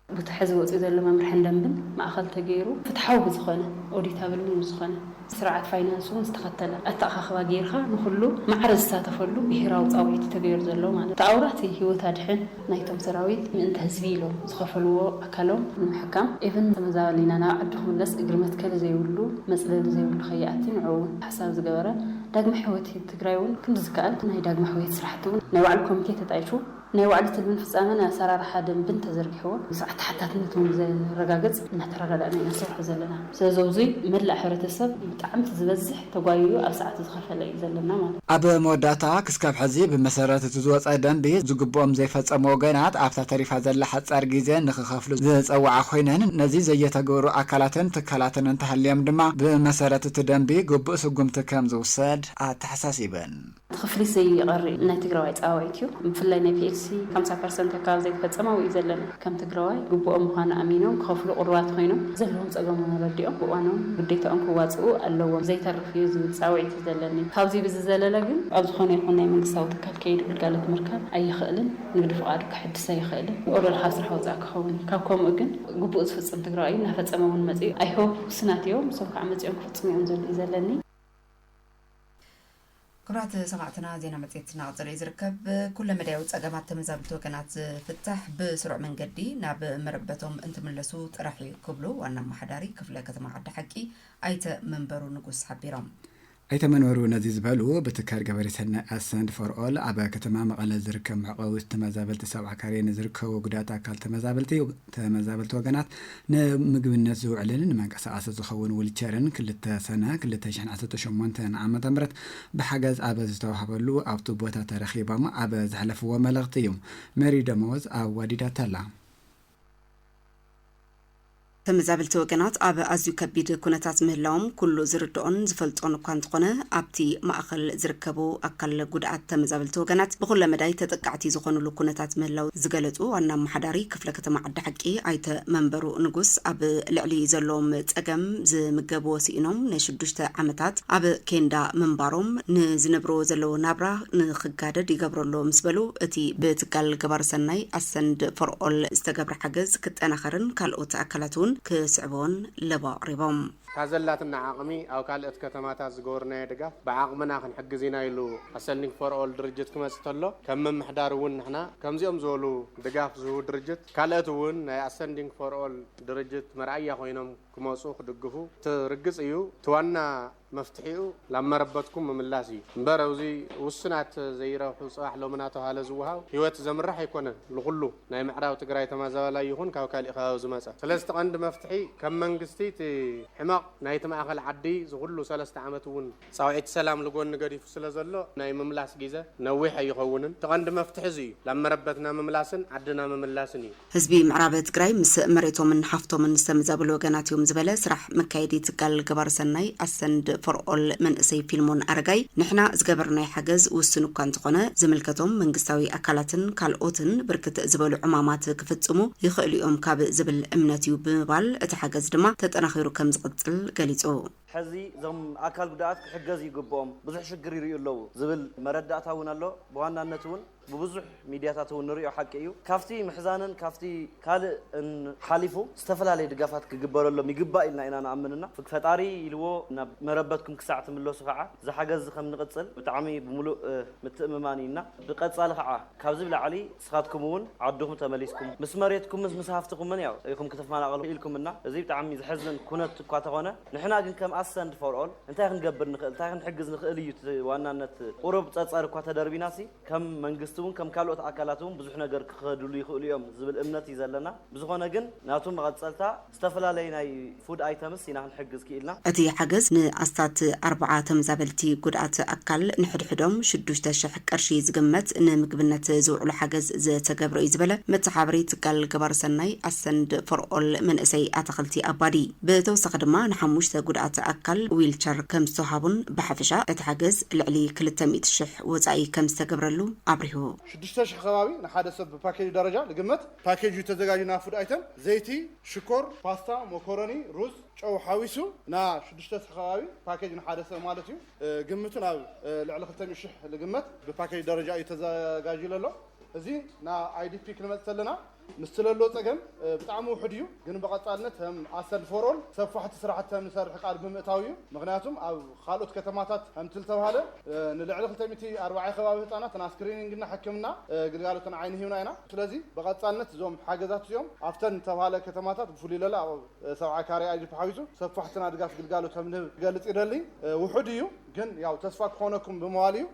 ቡቲ ሐዚ ወፂኡ ዘሎ መምርሕን ደንብን ማእኸል ተገይሩ ፍትሓዊ ብዝኾነ፣ ኦዲታብል እውን ብዝኾነ፣ ስርዓት ፋይናንስ እውን ዝተኸተለ ኣተኣኻኽባ ገይርኻ ንኹሉ ማዕረ ዝሳተፈሉ ብሄራዊ ፃውዒት እዩ ተገይሩ ዘሎ ማለት እቲ ኣውራ እቲ ህይወት ኣድሕን ናይቶም ሰራዊት ምእንተ ህዝቢ ኢሎም ዝኸፈልዎ ኣካሎም ንምሕካም ኢቭን ተመዛበሊና ናብ ዓዱ ክምለስ እግሪ መትከሊ ዘይብሉ መፅለሊ ዘይብሉ ከይኣቲ ንዕኡ እውን ታሕሳቢ ዝገበረ ዳግመ ሕወት ትግራይ እውን ክንዲ ዝከኣል ናይ ዳግመ ሕውየት ስራሕቲ እውን ናይ ባዕሉ ኮሚቴ ተጣይሹ ናይ ዋዕሊ ትልምን ፍጻመን ኣሰራርሓ ደንብን ተዘርጊሕዎ፣ ስርዓት ተሓታትነት እውን ዘረጋግጽ እናተረዳዳእና ኢና ንሰርሖ ዘለና። ስለዚ ኣብዙይ መላእ ሕብረተሰብ ብጣዕሚ እቲ ዝበዝሕ ተጓይዩ ኣብ ሰዓቱ ዝኸፈለ እዩ ዘለና ማለት እዩ። ኣብ መወዳእታ ክስካብ ሕዚ ብመሰረት እቲ ዝወጸ ደንቢ ዝግብኦም ዘይፈጸሙ ወገናት ኣብታ ተሪፋ ዘላ ሓጻር ጊዜ ንክኸፍሉ ዝጸወዓ ኮይነን ነዚ ዘየተግብሩ ኣካላትን ትካላትን እንተሃልዮም ድማ ብመሰረት እቲ ደንቢ ግቡእ ስጉምቲ ከምዝውሰድ ኣተሓሳሲበን። እቲ ክፍሊት ዘይቐሪ ናይ ትግራዋይ ፃውዒት እዩ። ብፍላይ ናይ ፒኤልሲ ሓምሳ ፐርሰንት ኣካባቢ ዘይተፈፀመ ኣብኡ እዩ ዘሎ። ከም ትግራዋይ ግቡኦም ምዃኑ ኣሚኖም ክኸፍሉ ቅሩባት ኾይኖም ዘለዎም ፀገሞም ኣረዲኦም ብእዋኖም ግዴታኦም ክዋፅኡ ኣለዎም ዘይተርፍ እዩ ዝብል ፃውዒት እዩ ዘለኒ። ካብዙይ ብዝዘለለ ግን። ኣብ ዝኾነ ይኹን ናይ መንግስታዊ ትካል ከይዱ ግልጋሎት ምርካብ ኣይኽእልን፣ ንግዲ ፍቓዱ ከሐድስ ኣይኽእልን፣ ኦሮል ካብ ስራሕ ወፃኢ ክኸውን እዩ። ካብ ከምኡ ግን ግቡኡ ዝፍፅም ትግራዋይ እዩ፣ እናፈፀመ እውን መፂኡ። I hope ውስናት እዮም፣ ንሶም ከዓ መፂኦም ክፍፅሙ እዮም ዝብል እዩ ዘለኒ። ክብራት ሰማዕትና ዜና መጽሔት እናቐጸለ እዩ ዝርከብ። ኩለ መዳያዊ ጸገማት ተመዛብልቲ ወገናት ዝፍታሕ ብስሩዕ መንገዲ ናብ መረበቶም እንትምለሱ ጥራሕ እዩ ክብሉ ዋና ኣመሓዳሪ ክፍለ ከተማ ዓዲ ሓቂ ኣይተ መንበሩ ንጉስ ሓቢሮም። ኣይተ መንበሩ ነዚ ዝበሉ ብትካል ገበሪ ሰናይ ኣሰንድ ፎር ኦል ኣብ ከተማ መቐለ ዝርከብ መዕቆቢ ተመዛበልቲ ሰብዓ ካሬ ንዝርከቡ ጉዳት ኣካል ተመዛበልቲ ተመዛበልቲ ወገናት ንምግብነት ዝውዕልን ንመንቀሳቐሲ ዝኸውን ውልቸርን ክልተ ሰነ ክልተ ሽሕን ዓሰርተ ሸሞንተን ዓመተ ምህረት ብሓገዝ ኣብ ዝተዋህበሉ ኣብቱ ቦታ ተረኺቦም ኣብ ዘሕለፍዎ መልእኽቲ እዩ ሜሪ ደመወዝ ኣዋዲዳታ'ላ። ተመዛበልቲ ወገናት ኣብ ኣዝዩ ከቢድ ኩነታት ምህላዎም ኩሉ ዝርድኦን ዝፈልጦን እኳ እንተኾነ ኣብቲ ማእኸል ዝርከቡ ኣካል ጉድኣት ተመዛበልቲ ወገናት ብኹለ መዳይ ተጠቃዕቲ ዝኾኑሉ ኩነታት ምህላው ዝገለፁ ዋና ኣመሓዳሪ ክፍለ ከተማ ዓዲ ሓቂ ኣይተ መንበሩ ንጉስ ኣብ ልዕሊ ዘለዎም ፀገም ዝምገብዎ ስኢኖም ንሽዱሽተ ዓመታት ኣብ ኬንዳ ምንባሮም ንዝነብርዎ ዘለዎ ናብራ ንክጋደድ ይገብሮ ኣሎ ምስ በሉ እቲ ብትካል ገባሪ ሰናይ ኣሰንድ ፎር ኦል ዝተገብረ ሓገዝ ክጠናኸርን ካልኦት ኣካላት እውን ክስዕብዎን ለበዋ ኣቕሪቦም። ካብ ዘላትና ዓቕሚ ኣብ ካልኦት ከተማታት ዝገበርናዮ ድጋፍ ብዓቕምና ክንሕግዝ ኢና ኢሉ ኣሰንድ ፎር ኦል ድርጅት ክመፅእ ተሎ ከም ምምሕዳር እውን ንሕና ከምዚኦም ዝበሉ ድጋፍ ዝህቡ ድርጅት ካልእት እውን ናይ ኣሰንዲንግ ፎር ኦል ድርጅት መርኣያ ኮይኖም ክመፁ ክድግፉ እቲ ርግፅ እዩ እቲ ዋና መፍትሒኡ ናብ መረበትኩም ምምላስ እዩ እምበር እብዙይ ውሱናት ዘይረብሑ ፅባሕ ሎሚ ናተብሃለ ዝወሃብ ህይወት ዘምርሕ ኣይኮነን ልኹሉ ናይ ምዕራብ ትግራይ ተማዛባላይ ይኹን ካብ ካሊእ ከባቢ ዝመፀ ስለዚ እቲ ቀንዲ መፍትሒ ከም መንግስቲ እቲ ሕመቕ ናይቲ ማእኸል ዓዲ ዝኹሉ ሰለስተ ዓመት እውን ጻውዒት ሰላም ልጎኒ ገዲፉ ስለ ዘሎ ናይ ምምላስ ጊዘ ነዊሕ ኣይኸውንን። እቲ ቀንዲ መፍትሒ እዚ እዩ። ላብ መረበትና ምምላስን ዓድና ምምላስን እዩ። ህዝቢ ምዕራብ ትግራይ ምስ መሬቶምን ሃፍቶምን ዝተመዛበሉ ወገናት እዮም ዝበለ ስራሕ መካየዲ ትካል ገባሪ ሰናይ ኣሰንድ ፎር ኦል መንእሰይ ፊልሞን ኣረጋይ ንሕና ዝገበርናዮ ሓገዝ ውሱን እኳ እንተኾነ ዝምልከቶም መንግስታዊ ኣካላትን ካልኦትን ብርክት ዝበሉ ዕማማት ክፍፅሙ ይኽእሉ እዮም ካብ ዝብል እምነት እዩ ብምባል እቲ ሓገዝ ድማ ተጠናኺሩ ከምዝቕፅል ገሊፁ። ሕዚ እዞም ኣካል ጉዳኣት ክሕገዙ ይግብኦም ብዙሕ ሽግር ይሪኡ ኣለዉ ዝብል መረዳእታ እውን ኣሎ። ብዋናነት እውን ብብዙሕ ሚድያታት እውን ንሪኦ ሓቂ እዩ። ካብቲ ምሕዛንን ካብቲ ካልእን ሓሊፉ ዝተፈላለየ ድጋፋት ክግበረሎም ይግባእ ኢልና ኢና ንኣምን እና ፈጣሪ ኢልዎ ናብ መረበትኩም ክሳዕ ትምለሱ ከዓ እዚ ሓገዝ እዚ ከምንቕፅል ብጣዕሚ ብምሉእ ምትእምማን እዩ እና ብቀፃሊ ከዓ ካብዚ ብላዕሊ ንስኻትኩም እውን ዓድኹም ተመሊስኩም ምስ መሬትኩምን ምስ ሃፍትኹምን ያው ኢኹም ክትፈናቐሉ ኢልኩምና። እዚ ብጣዕሚ ዘሕዝን ኩነት እኳ ተኾነ ንሕና ግን ከም ኣሰንድ ፎር ኦል እንታይ ክንገብር ንኽእል እንታይ ክንሕግዝ ንኽእል እዩ እቲ ዋናነት። ቁሩብ ፀፀር እኳ ተደርቢናሲ ከም መንግስቲ እውን ከም ካልኦት ኣካላት እውን ብዙሕ ነገር ክኸድሉ ይኽእሉ እዮም ዝብል እምነት እዩ ዘለና። ብዝኾነ ግን ናቱ መቐፀልታ ዝተፈላለዩ ናይ ፉድ ኣይተምስ ኢና ክንሕግዝ ክኢልና። እቲ ሓገዝ ንኣስታት ኣርብዓ ተመዛበልቲ ጉድኣት ኣካል ንሕድሕዶም ሽዱሽተ ሽሕ ቅርሺ ዝግመት ንምግብነት ዝውዕሉ ሓገዝ ዝተገብረ'ዩ ዝበለ መተሓባበሪ ትካል ገባሪ ሰናይ ኣሰንድ ፎር ኦል መንእሰይ ኣታኽልቲ ኣባዲ ብተወሳኺ ድማ ንሓሙሽተ ጉድኣት ኣካል ዊልቸር ከምዝተውሃቡን ብሓፈሻ እቲ ሓገዝ ልዕሊ ክልተ ሚእቲ ሽሕ ወፃኢ ከምዝተገብረሉ ኣብሪሁ። ሽዱሽተ ሽሕ ከባቢ ንሓደ ሰብ ብፓኬጁ ደረጃ ዝግመት ፓኬጅ'ዩ ተዘጋጅዩ ናብ ፉድ ኣይተም ዘይቲ፣ ሽኮር፣ ፓስታ፣ ሞኮሮኒ፣ ሩዝ፣ ጨው ሓዊሱ ን ሽዱሽተ ሰሕ ከባቢ ፓኬጅ ንሓደ ሰብ ማለት እዩ። ግምቱ ናብ ልዕሊ ክልተ ሚእቲ ሽሕ ልግመት ብፓኬጅ ደረጃ እዩ ተዘጋጅዩ ለሎ። እዚ ን ኣይዲፒ ክንመፅእ ተለና ምስቲ ለሎ ፀገም ብጣዕሚ ውሑድ እዩ። ግን ብቐፃልነት ከም ኣሰል ፎር ኦል ሰፋሕቲ ስራሕቲ ከም ንሰርሕ ቃል ብምእታው እዩ። ምኽንያቱም ኣብ። ኻልኦት ከተማታት ከምትልተብሃለ ንልዕሊ ክልተ ሚእቲ ኣርባዕየ ከባቢ ህፃናት ና ስክሪኒንግ እና ሕክምና ግልጋሎት ን ዓይኒ ሂብና ኢና። ስለዚ ብቐፃልነት እዞም ሓገዛት እዚኦም ኣብተን ዝተብሃለ ከተማታት ብፍሉይ ለለ ኣብ ሰብዓ ካሬ ኣጅፕ ሓዊሱ ሰፋሕቲ ናድጋት ግልጋሎት ከምንህብ ክገልፅ ይደሊ። ውሑድ እዩ ግን ያው ተስፋ ክኾነኩም ብምባል እዩ።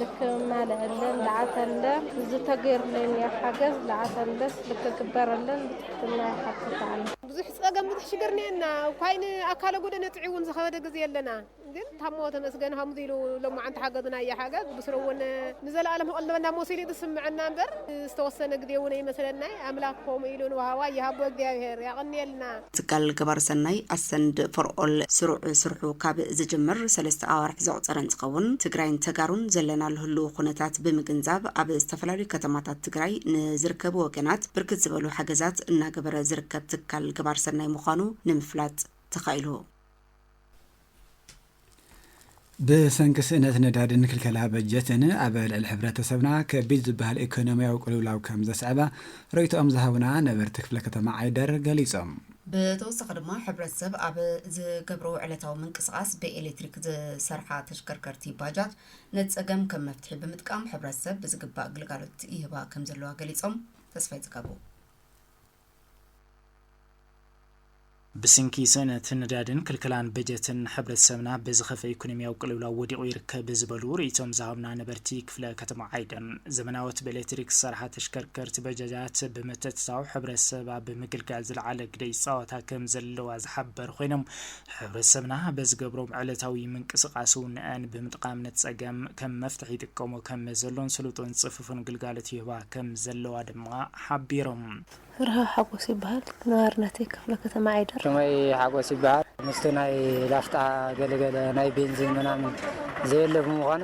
ልክ ማለሀለን ለዓተለ ዝተገይርለኛ ሓገዝ ለዓተለስ ልክ ግበረለን ብትሕትና ይሓትት ኣለ። ብዙሕ ጸገም ብዙሕ ሽግር ኔና ኳይን ኣካለ ጎደነ ጥዒውን ዝኸበደ ግዜ ኣለና ግን ታሞ ተመስገን ሃምዙ ኢሉ ሎማዓንቲ ሓገዝና እያ ሓገዝ ብስረውን ንዘለኣለም ክቕልበና ሞስ ኢሉ ዝስምዐና እምበር ዝተወሰነ ግዜ እውን ኣይመስለናይ ኣምላክ ከምኡ ኢሉ ንወሃዋይ ይሃቦ እግዚኣብሔር ያቕንየልና። ትካል ገባሪ ሰናይ ኣሰንድ ፎር ኦል ስሩዕ ስርሑ ካብ ዝጅምር ሰለስተ ኣዋርሕ ዘቑፀረ እንትኸውን ትግራይን ተጋሩን ዘለናሉ ህልው ኩነታት ብምግንዛብ ኣብ ዝተፈላለዩ ከተማታት ትግራይ ንዝርከቡ ወገናት ብርክት ዝበሉ ሓገዛት እናገበረ ዝርከብ ትካል ገባሪ ሰናይ ምዃኑ ንምፍላጥ ተኻኢሉ። ብሰንኪ ስእነት ነዳድን ክልከላ በጀትን ኣብ ልዕሊ ሕብረተሰብና ከቢድ ዝበሃል ኢኮኖሚያዊ ቅልውላው ከም ዘስዐበ ርእይቶኦም ዝሃቡና ነበርቲ ክፍለ ከተማ ዓይደር ገሊፆም። ብተወሳኺ ድማ ሕብረተሰብ ኣብ ዝገብሮ ዕለታዊ ምንቅስቓስ ብኤሌክትሪክ ዝሰርሓ ተሽከርከርቲ ባጃጅ ነቲ ፀገም ከም መፍትሒ ብምጥቃም ሕብረተሰብ ብዝግባእ ግልጋሎት ይህባ ከም ዘለዋ ገሊፆም። ተስፋይ ፅጋቡ። ብስንኪ ስእነት ነዳድን ክልከላን በጀትን ሕብረተሰብና በዚ ኸፈ ኢኮኖሚያዊ ቅልውላው ወዲቑ ይርከብ ዝበሉ ርኢቶም ዝሃቡና ነበርቲ ክፍለ ከተማ ዓይደር፣ ዘመናዎት ብኤሌክትሪክ ዝሰርሓ ተሽከርከርቲ በጃጃት ብምትእትታው ሕብረተሰብ ኣብ ምግልጋል ዝለዓለ ግደ ይፃወታ ከምዘለዋ ዝሓበሩ ኮይኖም፣ ሕብረተሰብና በዝገብሮም ዕለታዊ ምንቅስቃስ እውነኣን ብምጥቓም ነቲ ፀገም ከም መፍትሒ ይጥቀሞ ከም ዘሎን ስሉጥን ፅፉፍን ግልጋሎት ይህባ ከም ዘለዋ ድማ ሓቢሮም። ፍርሃው ሓጎስ ይበሃል። ነባሪ ናተይ ክፍለ ከተማ ዓይደር። ሽመይ ሓጎስ ይበሃል። ምስቲ ናይ ላፍጣ ገለገለ ናይ ቤንዚን ምናምን ዘየለ ብምዃኑ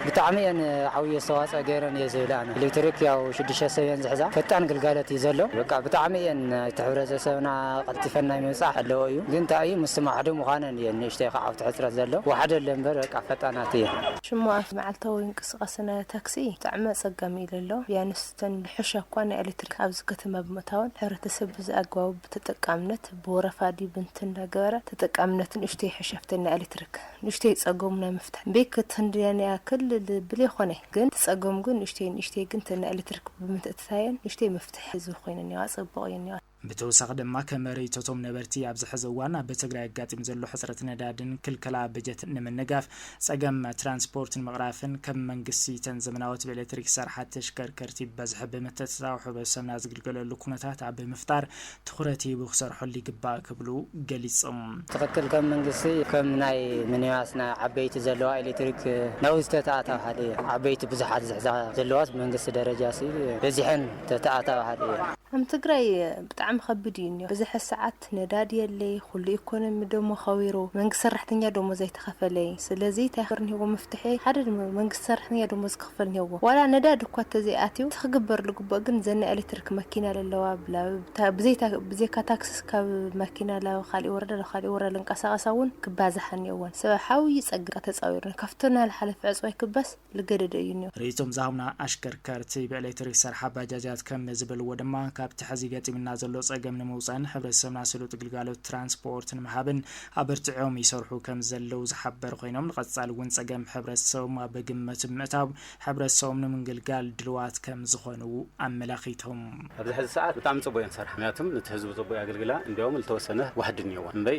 ብጣዕሚ እየን ዓብይ ኣስተዋፅኦ ገይረን እየ ዝብል ኣነ ኤሌክትሪክ ያው ሽዱሽተ ሰብ እየን ዝሕዛ ፈጣን ግልጋሎት እዩ ዘሎ በቃ ብጣዕሚ እየን ናይቲ ሕብረተሰብና ቀልጢፈን ናይ ምብፃሕ ዘለዎ እዩ ግን እንታይ እዩ ምስቲ ማዕዶ ምኳነን እየን ንእሽተይ ከዓ ኣብቲ ሕፅረት ዘሎ ዋሕደ ኣሎ እምበር በቃ ፈጣናት እየን። ሽሙ ኣብቲ መዓልታዊ ምንቅስቃስ ናይ ታክሲ ብጣዕሚ ኣፀጋሚ ኢሉ ኣሎ ቢያንስ እተን ብሕሻ እኳ ናይ ኤሌክትሪክ ኣብዚ ከተማ ብምእታወን ሕብረተሰብ ብዝኣግባቡ ብተጠቃምነት ብወረፋ ድዩ ብንት እንዳገበረ ተጠቃምነቱ ንእሽተይ ይሕሸፍተን ናይ ኤሌክትሪክ ንእሽተይ ጸገሙ ናይ ምፍታሕ ቤት ክትንድየን እያ ክል ልብል የኾነ ግን እቲ ጸገሙ ግን ንእሽተይ ንእሽተይ ግን እተን ናይ ኤለትርክ ብምትእትታየን ንእሽተይ ምፍትሕ ህዝቢ ኮይነን እየዋ ጽቡቕ እየን እየዋ። ብተወሳኺ ድማ ከም ርእይቶቶም ነበርቲ ኣብዚ ሕዚ እዋን ኣብ ትግራይ ኣጋጢሙ ዘሎ ሕጽረት ነዳድን ክልከላ በጀትን ንምንጋፍ ጸገም ትራንስፖርት ንምቕራፍን ከም መንግስቲ እተን ዘመናዎት ብኤለትሪክ ዝሰርሓ ተሽከርከርቲ ብበዝሒ ብምትእትታው ሕብረተሰብና ዝግልገለሉ ኩነታት ኣብ ምፍጣር ትኹረት ሂቡ ክሰርሐሉ ይግባእ ክብሉ ገሊፆም። ትኽክል ከም መንግስቲ ከም ናይ ምኒባስ ናይ ዓበይቲ ዘለዋ ኤሌክትሪክ ናውዚ ተተኣታባሃሊ እየ ዓበይቲ ብዙሓት ዝሕዛ ዘለዋስ ብመንግስቲ ደረጃ ሲ በዚሐን ተተኣታባሃሊ እየ። ኣም ትግራይ ብጣዕሚ ከብድ እዩ እንዮ በዘሐ ሰዓት ነዳዲ የለይ ኹሉ ኢኮኖሚ ደሞ ኸዊሩ መንግስት ሰራሕተኛ ደሞዝ ኣይተኸፈለይ ስለዚ ታይ ኽርንሂዎ መፍትሒ ሐደ መንግስት ሰራሕተኛ ደሞዝ ክኸፍል ኔዎ ዋላ ነዳዲ እኳ እተዘይ ኣትዩ እቲ ክግበር ልግብኦ ግን እዘን ናይ ኤሌትሪክ መኪና ለለዋ ብላብ ብዘይታ ብዘይካ ታክስስ ካብ መኪና ላብ ኻሊእ ወረዳ ላብ ኻሊእ ወረዳ ልንቀሳቀሳ እውን ክባዛሓ ኔዎን ሰብ ሓው ይጸግብ እካ ተጻዊርና ካብቶ ናልሓለፈ ዕጽዋይ ክባስ ልገደደ እዩ ኔዎ። ርእይቶም ዝሃቡና ኣሽከርከርቲ ብኤሌትሪክ ዝሰርሓ ባጃጃት ከም ዝበልዎ ድማ ካብቲ ሐዚ ገጢምና ዘሎ ጸገም ንምውጻእን ሕብረተሰብና ስሉጥ ግልጋሎት ትራንስፖኦርት ንምሃብን ኣበርቲዖም ይሰርሑ ከምዘለዉ ዝሓበሩ ኮይኖም፣ ንቐፃሊ እውን ፀገም ሕብረተሰቦም ኣብ ግምት ብምእታው ሕብረተሰቦም ንምግልጋል ድልዋት ከምዝኾኑ ኣመላኺቶም። ኣብዚ ሐዚ ሰዓት ብጣዕሚ ፅቡቅ እየን ዝሰርሓ ምክንያቱም ንቲ ህዝቢ ፅቡቅ የገልግላ እንዲያውም ልተወሰነ ዋሕዲ እኒኦወን እምበይ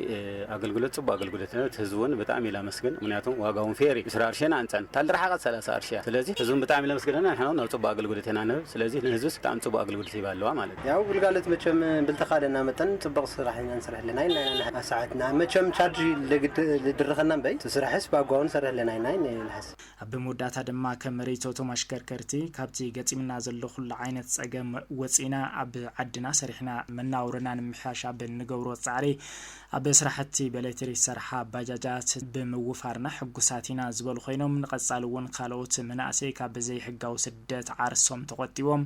ኣገልግሎት ፅቡቅ ኣገልግሎት እዩ ንቲ ህዝቢ እውን ብጣዕሚ ላመስግን ምክንያቱም ዋጋ እውን ፌር እዩ ምስራ ኣርሽን ኣንፀን እታ ልረሓቀት ሰላሳ ኣርሺ እያ ስለዚ ህዝቢ እውን ብጣዕሚ ለመስግነና ንሕና እውን ኣብ ፅቡቅ ኣገልግሎት ኢና ንህብ ስለዚ ንህዝብስ ብጣዕሚ ፅቡቅ ኣገልግሎት ሂባ ኣለዋ ማለት እዩ። ያው ግልጋሎት መቸም ብልተካለና መጠን ፅቡቅ ስራሕ ኢና ንስርሕ። ኣለናይ ናይ ናይ ንሓስ ሰዓት ንኣ መቸም ቻርጅ ለግድ ልድርኸና እምበይ እቲ ስራሕስ ብኣጓቡ ንሰርሕ ኣለናይ ናይ ናይ ንሓስ። ኣብ መወዳእታ ድማ ከም ርይቶቶም ኣሽከርከርቲ ካብቲ ገጢምና ዘሎ ኩሉ ዓይነት ፀገም ወፂእና ኣብ ዓድና ሰሪሕና መናውሮና ንምምሕያሽ ኣብ ንገብሮ ፃዕሪ ኣብ ስራሕቲ በሌትሪክ ዝሰርሓ ባጃጃት ብምውፋርና ሕጉሳት ኢና ዝበሉ ኮይኖም ንቐፃሊ እውን ካልኦት መናእሰይ ካብ ዘይሕጋዊ ስደት ዓርሶም ተቖጢቦም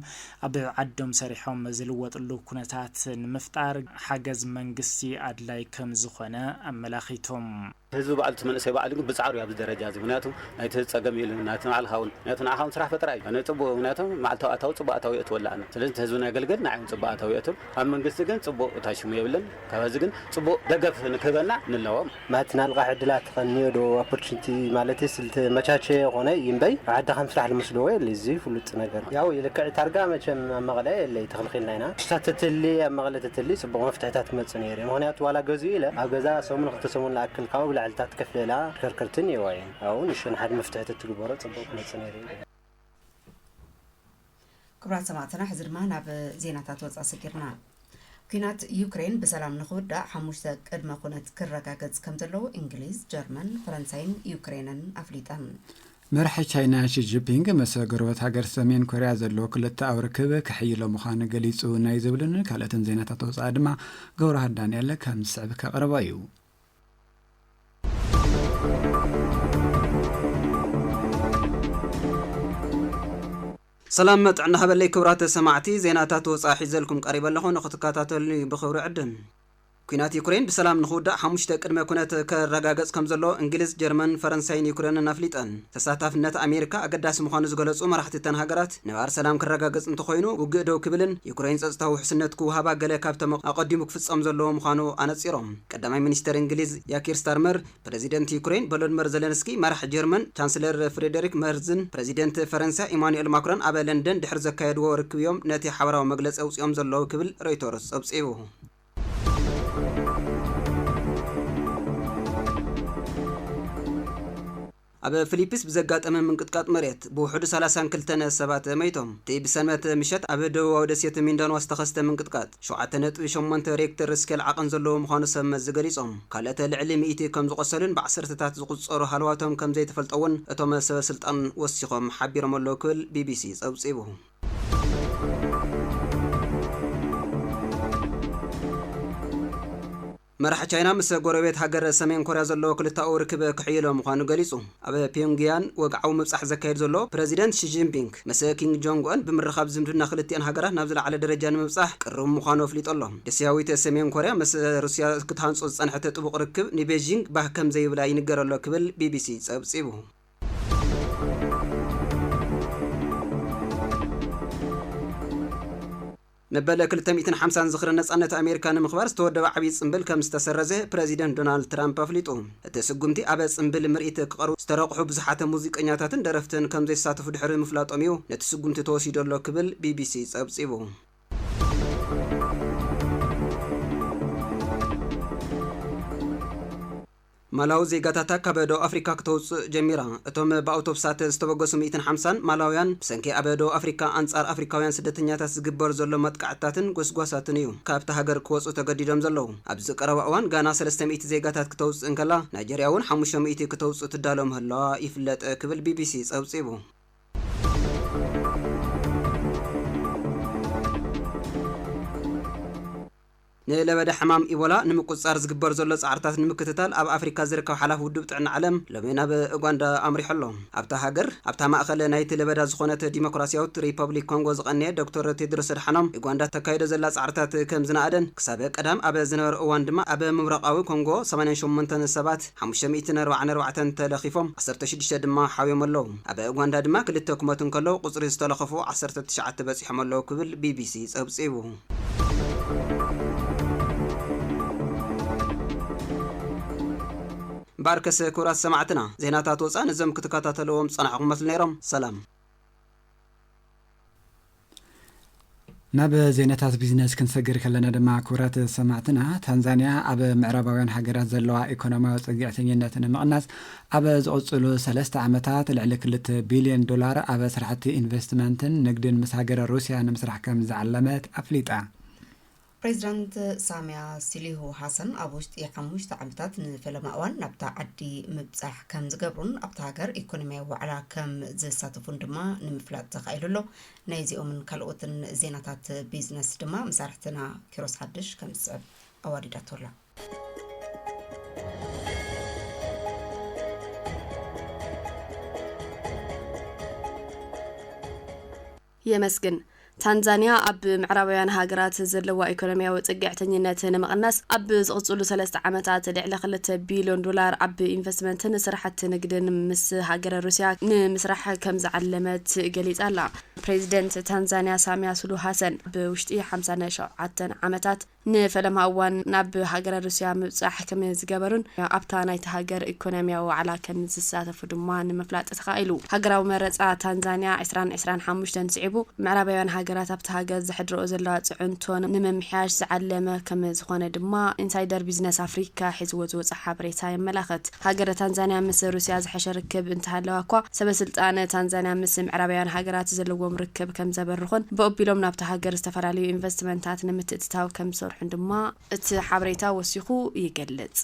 ኣብ ዓዶም ሰሪሖም ዝልወጥሉ ኩነታት ንምፍጣር ሓገዝ መንግስቲ ኣድላይ ከምዝኾነ ኣመላኺቶም። ህዝቢ ባዕሉ እቲ መንእሰይ ባዕሉ ግን ብፃዕሩ እዩ ኣብዚ ደረጃ እዚ ምክንያቱ ናይቲ ህዝቢ ፀገም እዩ ኢሉ ናይቲ ንባዕልካ እውን ምክንያቱ ንዓካ እውን ስራሕ ፈጠራ እዩ ፅቡቅ ምክንያቱ መዓልታዊ ኣታዊ ፅቡቅ ኣታዊ የእትወላ ኣነ ስለዚ እቲ ህዝቢ ነገልግል ንዓይ እውን ፅቡቅ ኣታዊ የእትው ካብ መንግስቲ ግን ጽቡቅ ታሽሙ የብልን ካብ ሀዚ ግን ጽቡቅ ደገፍ ንክህበና ንለዎም። ማት ናልቃሕ ዕድላት ኸንዮ ዶ ኣፖርችንቲ ማለትስ ልተመቻቸየ ኾነ ይምበይ ዓዲ ኸምስራሕ ልመስልዎ የለ እዙ ፍሉጥ ነገር ያው ይልክዕ ታርጋ መቸም ኣብ መቐለ የለይ ተኽልኺልና ኢና ንሳ ተትህሊ ኣብ መቐለ ተትህሊ ጽቡቕ መፍትሕታት ክመጽእ ነይሩ እዩ ምኽንያቱ ዋላ ገዝኡ ኢለ ኣብ ገዛ ሰሙን ኽልተ ሰሙን ልኣክል ካብ ኣብላዕልታት ከፍልላ ተከርከርቲ እኒኤዋ እየን ኣብኡ ንእሽቶ ንሓደ መፍትሒ ተትግበሮ ጽቡቕ ክመጽእ ነይሩ እዩ። ክብራት ሰማዕትና ሕዚ ድማ ናብ ዜናታት ወፃ ሰጊርና ኩናት ዩክሬን ብሰላም ንክውዳእ ሓሙሽተ ቅድመ ኩነት ክረጋገፅ ከም ዘለዎ እንግሊዝ ጀርመን ፈረንሳይን ዩክሬንን ኣፍሊጠን መራሒ ቻይና ሺጂፒንግ መሰ ጎረበት ሃገር ሰሜን ኮርያ ዘለዎ ክልተኣዊ ርክብ ክሕይሎ ምዃኑ ገሊጹ ናይ ዝብልን ካልኦትን ዜናታት ወፃኢ ድማ ገብረሃር ዳንኤል ከም ዝስዕብ ከቕርቦ እዩ ሰላም ጥዕና ሃበለይ ክብራት ሰማዕቲ ዜናታት ወፃኢ ሒዘልኩም ቀሪበ ኣለኹ ንክትከታተሉኒ ብክብሪ ዕድም ኩናት ዩክሬን ብሰላም ንክውዳእ ሓሙሽተ ቅድመ ኩነት ከረጋገጽ ከም ዘሎ እንግሊዝ፣ ጀርመን፣ ፈረንሳይን ዩክሬንን ኣፍሊጠን። ተሳታፍነት ኣሜሪካ ኣገዳሲ ምዃኑ ዝገለጹ መራሕቲ እተን ሃገራት ነባር ሰላም ክረጋገጽ እንተኾይኑ ውግእ ደው ክብልን ዩክሬን ጸጥታዊ ውሕስነት ክውሃባ ገለ ካብቶም ኣቐዲሙ ክፍጸም ዘለዎ ምዃኑ ኣነጺሮም። ቀዳማይ ሚኒስተር እንግሊዝ ያኪር ስታርመር፣ ፕረዚደንት ዩክረይን ቮሎድመር ዘለንስኪ፣ መራሒ ጀርመን ቻንስለር ፍሬደሪክ መርዝን ፕረዚደንት ፈረንሳ ኢማኑኤል ማክሮን ኣብ ለንደን ድሕሪ ዘካየድዎ ርክብ'ዮም ነቲ ሓበራዊ መግለጺ ኣውጺኦም ዘለዉ ክብል ሮይተርስ ጸብጺቡ። ኣብ ፍሊፒስ ብዘጋጠመ ምንቅጥቃጥ መሬት ብውሑዱ ሰላሳን ክልተን ሰባት መይቶም። እቲ ብሰንበት ምሸት ኣብ ደቡባዊ ደሴት ሚንዳንዋ ዝተኸስተ ምንቅጥቃጥ ሸውዓተ ነጥቢ ሸሞንተ ሬክተር ስኬል ዓቐን ዘለዎ ምዃኑ ሰብ መዚ ገሊጾም። ካልኦት ልዕሊ ሚእቲ ከም ዝቖሰሉን ብዓሰርተታት ዝቑጸሩ ሃለዋቶም ከም ዘይተፈልጠ'ውን እቶም ሰበ ስልጣን ወሲኾም ሓቢሮም ኣለዉ ክብል ቢቢሲ ጸብጺቡ። መራሒ ቻይና ምስ ጎረቤት ሃገር ሰሜን ኮርያ ዘለዎ ክልተኣዊ ርክብ ክሕይሎ ምዃኑ ገሊጹ። ኣብ ፒዮንግያን ወግዓዊ ምብጻሕ ዘካይድ ዘሎ ፕረዚደንት ሺ ጂንፒንግ፣ ምስ ኪንግ ጆንግ ኡን ብምርኻብ ዝምድና ክልቲኣን ሃገራት ናብ ዝለዓለ ደረጃ ንምብጻሕ ቅሩብ ምዃኑ ኣፍሊጡ ኣሎ። ደሴያዊት ሰሜን ኮርያ ምስ ሩስያ ክትሃንጾ ዝጸንሐት ጥቡቕ ርክብ ንቤጂንግ ባህ ከም ዘይብላ ይንገር ኣሎ ክብል ቢቢሲ ጸብጺቡ። መበል ክልተ ሚእትን ሓምሳን ዝኽሪ ነጻነት ኣሜሪካ ንምኽባር ዝተወደበ ዓብዪ ጽምብል ከም ዝተሰረዘ ፕረዚደንት ዶናልድ ትራምፕ ኣፍሊጡ። እቲ ስጉምቲ ኣብ ጽምብል ምርኢት ክቐርቡ ዝተረቑሑ ብዙሓት ሙዚቀኛታትን ደረፍትን ከም ዘይሳተፉ ድሕሪ ምፍላጦም እዩ ነቲ ስጉምቲ ተወሲዱ ኣሎ ክብል ቢቢሲ ጸብጺቡ። ማላዊ ዜጋታታ ካብ ደቡብ ኣፍሪካ ክተውፅእ ጀሚራ። እቶም ብኣውቶብሳት ዝተበገሱ ሚእትን ሓምሳን ማላውያን ብሰንኪ ኣብ ደቡብ ኣፍሪካ ኣንፃር ኣፍሪካውያን ስደተኛታት ዝግበር ዘሎ መጥቃዕትታትን ጎስጓሳትን እዩ ካብታ ሃገር ክወፁ ተገዲዶም ዘለዉ። ኣብዚ ቀረባ እዋን ጋና ሰለስተ ሚእቲ ዜጋታት ክተውፅእ እንከላ ናይጀርያ እውን ሓሙሽተ ሚእቲ ክተውፅእ ትዳሎ ምህላዋ ይፍለጥ ክብል ቢቢሲ ፀብፂቡ። ንለበዳ ሕማም ኢቦላ ንምቁጽጻር ዝግበር ዘሎ ጻዕርታት ንምክትታል ኣብ ኣፍሪካ ዝርከብ ሓላፊ ውድብ ጥዕና ዓለም ሎሚ ናብ ኡጋንዳ ኣምሪሑ ኣሎ። ኣብታ ሃገር ኣብታ ማእኸል ናይቲ ለበዳ ዝኾነት ዲሞክራሲያዊት ሪፐብሊክ ኮንጎ ዝቐነየ ዶክተር ቴድሮስ ኣድሓኖም ኡጋንዳ እተካይዶ ዘላ ጻዕርታት ከም ዝነኣደን ክሳብ ቀዳም ኣብ ዝነበረ እዋን ድማ ኣብ ምብራቓዊ ኮንጎ ሰማንያን ሸሞንተን ሰባት ሓሙሽተ ሚእትን ኣርባዓን ኣርባዕተን ተለኺፎም ዓሰርተ ሽዱሽተ ድማ ሓውዮም ኣለው። ኣብ ኡጋንዳ ድማ ክልተ ክሞቱ እንከለው ቁጽሪ ዝተለኸፉ ዓሰርተ ትሽዓተ በጺሖም ኣለው ክብል ቢቢሲ ጸብጺቡ። ባርከስ ክብራት ሰማዕትና ዜናታት ወፃኢ ነዞም ክትከታተልዎም ዝፀናሕኹም መስሉ ነይሮም ሰላም ናብ ዜናታት ቢዝነስ ክንሰግር ከለና ድማ ክብራት ሰማዕትና ታንዛንያ ኣብ ምዕራባውያን ሃገራት ዘለዋ ኢኮኖሚያዊ ፅግዕተኝነት ንምቕናስ ኣብ ዝቕፅሉ ሰለስተ ዓመታት ልዕሊ ክልተ ቢሊየን ዶላር ኣብ ስራሕቲ ኢንቨስትመንትን ንግድን ምስ ሃገረ ሩሲያ ንምስራሕ ከምዝዓለመት ኣፍሊጣ። ፕሬዚዳንት ሳሚያ ሲሊሁ ሃሰን ኣብ ውሽጢ ሓሙሽተ ዓመታት ንፈለማ እዋን ናብታ ዓዲ ምብፃሕ ከምዝገብሩን ኣብታ ሃገር ኢኮኖሚያዊ ዋዕላ ከምዝሳተፉን ድማ ንምፍላጥ ተኻኢሉ ኣሎ። ናይዚኦምን ካልኦትን ዜናታት ቢዝነስ ድማ መሳርሕትና ኪሮስ ሓድሽ ከምዝስዕብ ኣዋዲዳቶ ኣላ። የመስግን። ታንዛንያ ኣብ ምዕራባውያን ሃገራት ዘለዋ ኢኮኖሚያዊ ጽግዕተኝነት ንምቕናስ ኣብ ዝቕጽሉ ሰለስተ ዓመታት ልዕሊ ክልተ ቢልዮን ዶላር ኣብ ኢንቨስትመንትን ስራሕቲ ንግድን ምስ ሃገረ ሩስያ ንምስራሕ ከም ዝዓለመት ገሊጻ ኣላ። ፕሬዚደንት ታንዛንያ ሳሚያ ሱሉ ሃሰን ኣብ ውሽጢ ሓምሳን ሸውዓተን ዓመታት ንፈለማ እዋን ናብ ሃገረ ሩስያ ምብጻሕ ከም ዝገበሩን ኣብታ ናይታ ሃገር ኢኮኖሚያዊ ዋዕላ ከም ዝሳተፉ ድማ ንምፍላጥ ተኻኢሉ። ሃገራዊ መረጻ ታንዛንያ ዕስራን ዕስራን ሓሙሽተን ስዒቡ፣ ምዕራባውያን ሃገራት ኣብታ ሃገር ዘሕድርኦ ዘለዋ ጽዕንቶ ንምምሕያሽ ዝዓለመ ከም ዝኾነ ድማ ኢንሳይደር ቢዝነስ ኣፍሪካ ሒዝዎ ዝወጸ ሓበሬታ የመላኽት። ሃገረ ታንዛንያ ምስ ሩስያ ዝሐሸ ርክብ እንተሃለዋ'ኳ፣ ሰበስልጣን ታንዛንያ ምስ ምዕራባውያን ሃገራት ዘለዎም ርክብ ከምዘበርኹን ብኦቢሎም ናብታ ሃገር ዝተፈላለዩ ኢንቨስትመንታት ንምትእትታው ከምዝሰርሑን ድማ እቲ ሓበሬታ ወሲኹ ይገልጽ።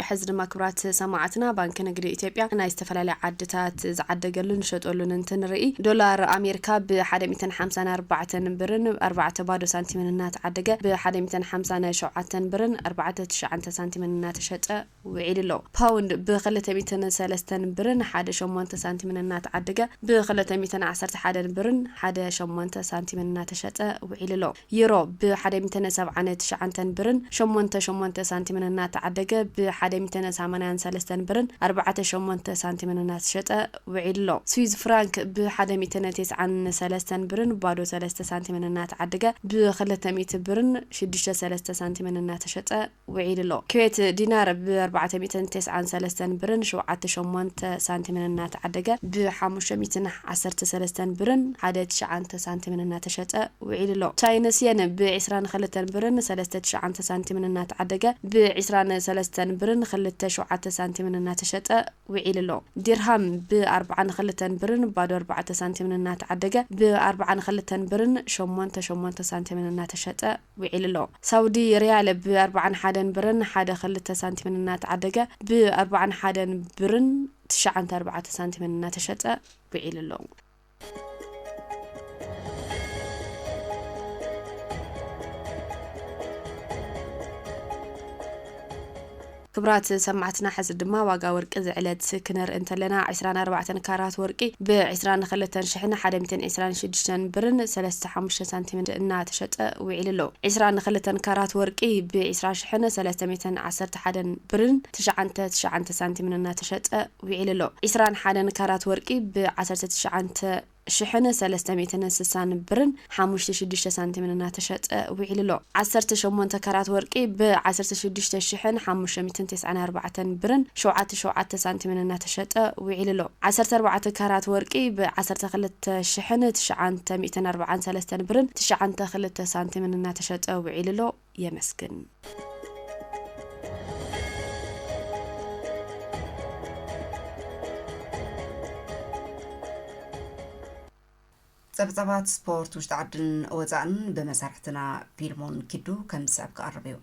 ሕዚ ድማ ክብራት ሰማዕትና ባንኪ ንግዲ ኢትዮጵያ ናይ ዝተፈላለያ ዓድታት ዝዓደገሉን ዝሸጠሉን እንትንርኢ ዶላር ኣሜርካ ብ ሓደ ሚእትን ሓምሳን ኣርባዕተን ብርን ኣርባዕተ ባዶ ሳንቲምን እናተዓደገ ብ ሓደ ሚእትን ሓምሳን ሸውዓተን ብርን ኣርባዕተ ትሽዓንተ ሳንቲምን እናተሸጠ ውዒሉ ኣሎ። ፓውንድ ብ ክልተ ሚእትን ሰለስተን ብርን ሓደ ሸሞንተ ሳንቲምን እናተዓደገ ብ ክልተ ሚእትን ዓሰርተ ሓደን ብርን ሓደ ሸሞንተ ሳንቲምን እናተሸጠ ውዒሉ ኣሎ። ዩሮ ብ ሓደ ሚተነ ሰብዓነ ትሽዓንተን ብርን ሸሞንተ ሸሞንተ ሳንቲምን እናተዓደገ ብ ሓደ ሚተነ ሳማንያን ሰለስተን ብርን ኣርባዕተ ሸሞንተ ሳንቲምን እናተሸጠ ውዒሉ'ሎ። ስዊዝ ፍራንክ ብ ሓደ ሚተነ ቴስዓን ሰለስተን ብርን ባዶ ሰለስተ ሳንቲምን እናተዓደገ ብ ክልተ ሚእቲ ብርን ሽዱሽተ ሰለስተ ሳንቲምን እናተሸጠ ውዒሉ ኣሎ። ኩዌት ዲናር ብ ኣርባዕተ ሚእትን ተስዓን ሰለስተን ብርን ሸውዓተ ሸሞንተ ሳንቲምን እናተዓደገ ብ ሓሙሽተ ሚእትን ዓሰርተ ሰለስተን ብርን ሓደ ትሽዓንተ ሳንቲምን እናተሸጠ ውዒሉ ኣሎ። ቻይንስ የን ብ ዕስራን ኸልተን ብርን ሰለስተ ትሽዓንተ ሳንቲምን እናተዓደገ ብ ዕስራን ሰለስተን ብርን ኽልተ ሸውዓተ ሳንቲምን እናተሸጠ ውዒሉ ኣሎ። ዲርሃም ብ ኣርብዓን ኸልተን ብርን ባዶ ኣርባዕተ ሳንቲምን እናተዓደገ ብ ኣርብዓን ኸልተን ብርን ሸሞንተ ሸሞንተ ሳንቲምን እናተሸጠ ዊዒሉ'ሎ። ሳውዲ ሪያል ብ ኣርብዓን ሓደን ብርን ሓደ ክልተ ሳንቲምን እናተዓደገ ብ ኣርብዓን ሓደን ብርን ትሽዓንተ ኣርባዕተ ሳንቲምን እናተሸጠ ዊዒሉ'ሎ። ክብራት ሰማዕትና ሕዚ ድማ ዋጋ ወርቂ ዝዕለት ክነርኢ እንተለና ዕስራን ኣርባዕተን ካራት ወርቂ ብ ዕስራን ክልተን ሽሕን ሓደ ሚትን ዕስራን ሽዱሽተን ብርን ሰለስተ ሓሙሽተ ሳንቲምን እናተሸጠ ዊዒሉ ኣሎ ዕስራን ክልተን ካራት ወርቂ ብ ዕስራ ሽሕን ሰለስተ ሚትን ዓሰርተ ሓደን ብርን ትሽዓንተ ትሽዓንተ ሳንቲምን እናተሸጠ ዊዒሉ ኣሎ ዕስራን ሓደን ካራት ወርቂ ብ ዓሰርተ ትሽዓንተ ሽሕን ሰለስተ ሚእትን ስሳን ብርን ሓሙሽተ ሽዱሽተ ሳንቲምን እናተሸጠ ውዒሉ ኣሎ። ዓሰርተ ሸሞንተ ካራት ወርቂ ብ ዓሰርተ ሽዱሽተ ሽሕን ሓሙሽተ ሚእትን ተስዓን ኣርባዕተን ብርን ሸውዓተ ሸውዓተ ሳንቲምን እናተሸጠ ውዒሉ ኣሎ። ዓሰርተ ኣርባዕተ ካራት ወርቂ ብ ዓሰርተ ክልተ ሽሕን ትሽዓንተ ሚእትን ኣርብዓን ሰለስተን ብርን ትሽዓንተ ክልተ ሳንቲምን እናተሸጠ ውዒሉ ኣሎ። የመስግን። ጸብጻባት ስፖርት ውሽጢ ዓድን ወጻእን ብመሳርሕትና ፒልሞን ኪዱ ከም ዝስዕብ ክቐርብ እዩ።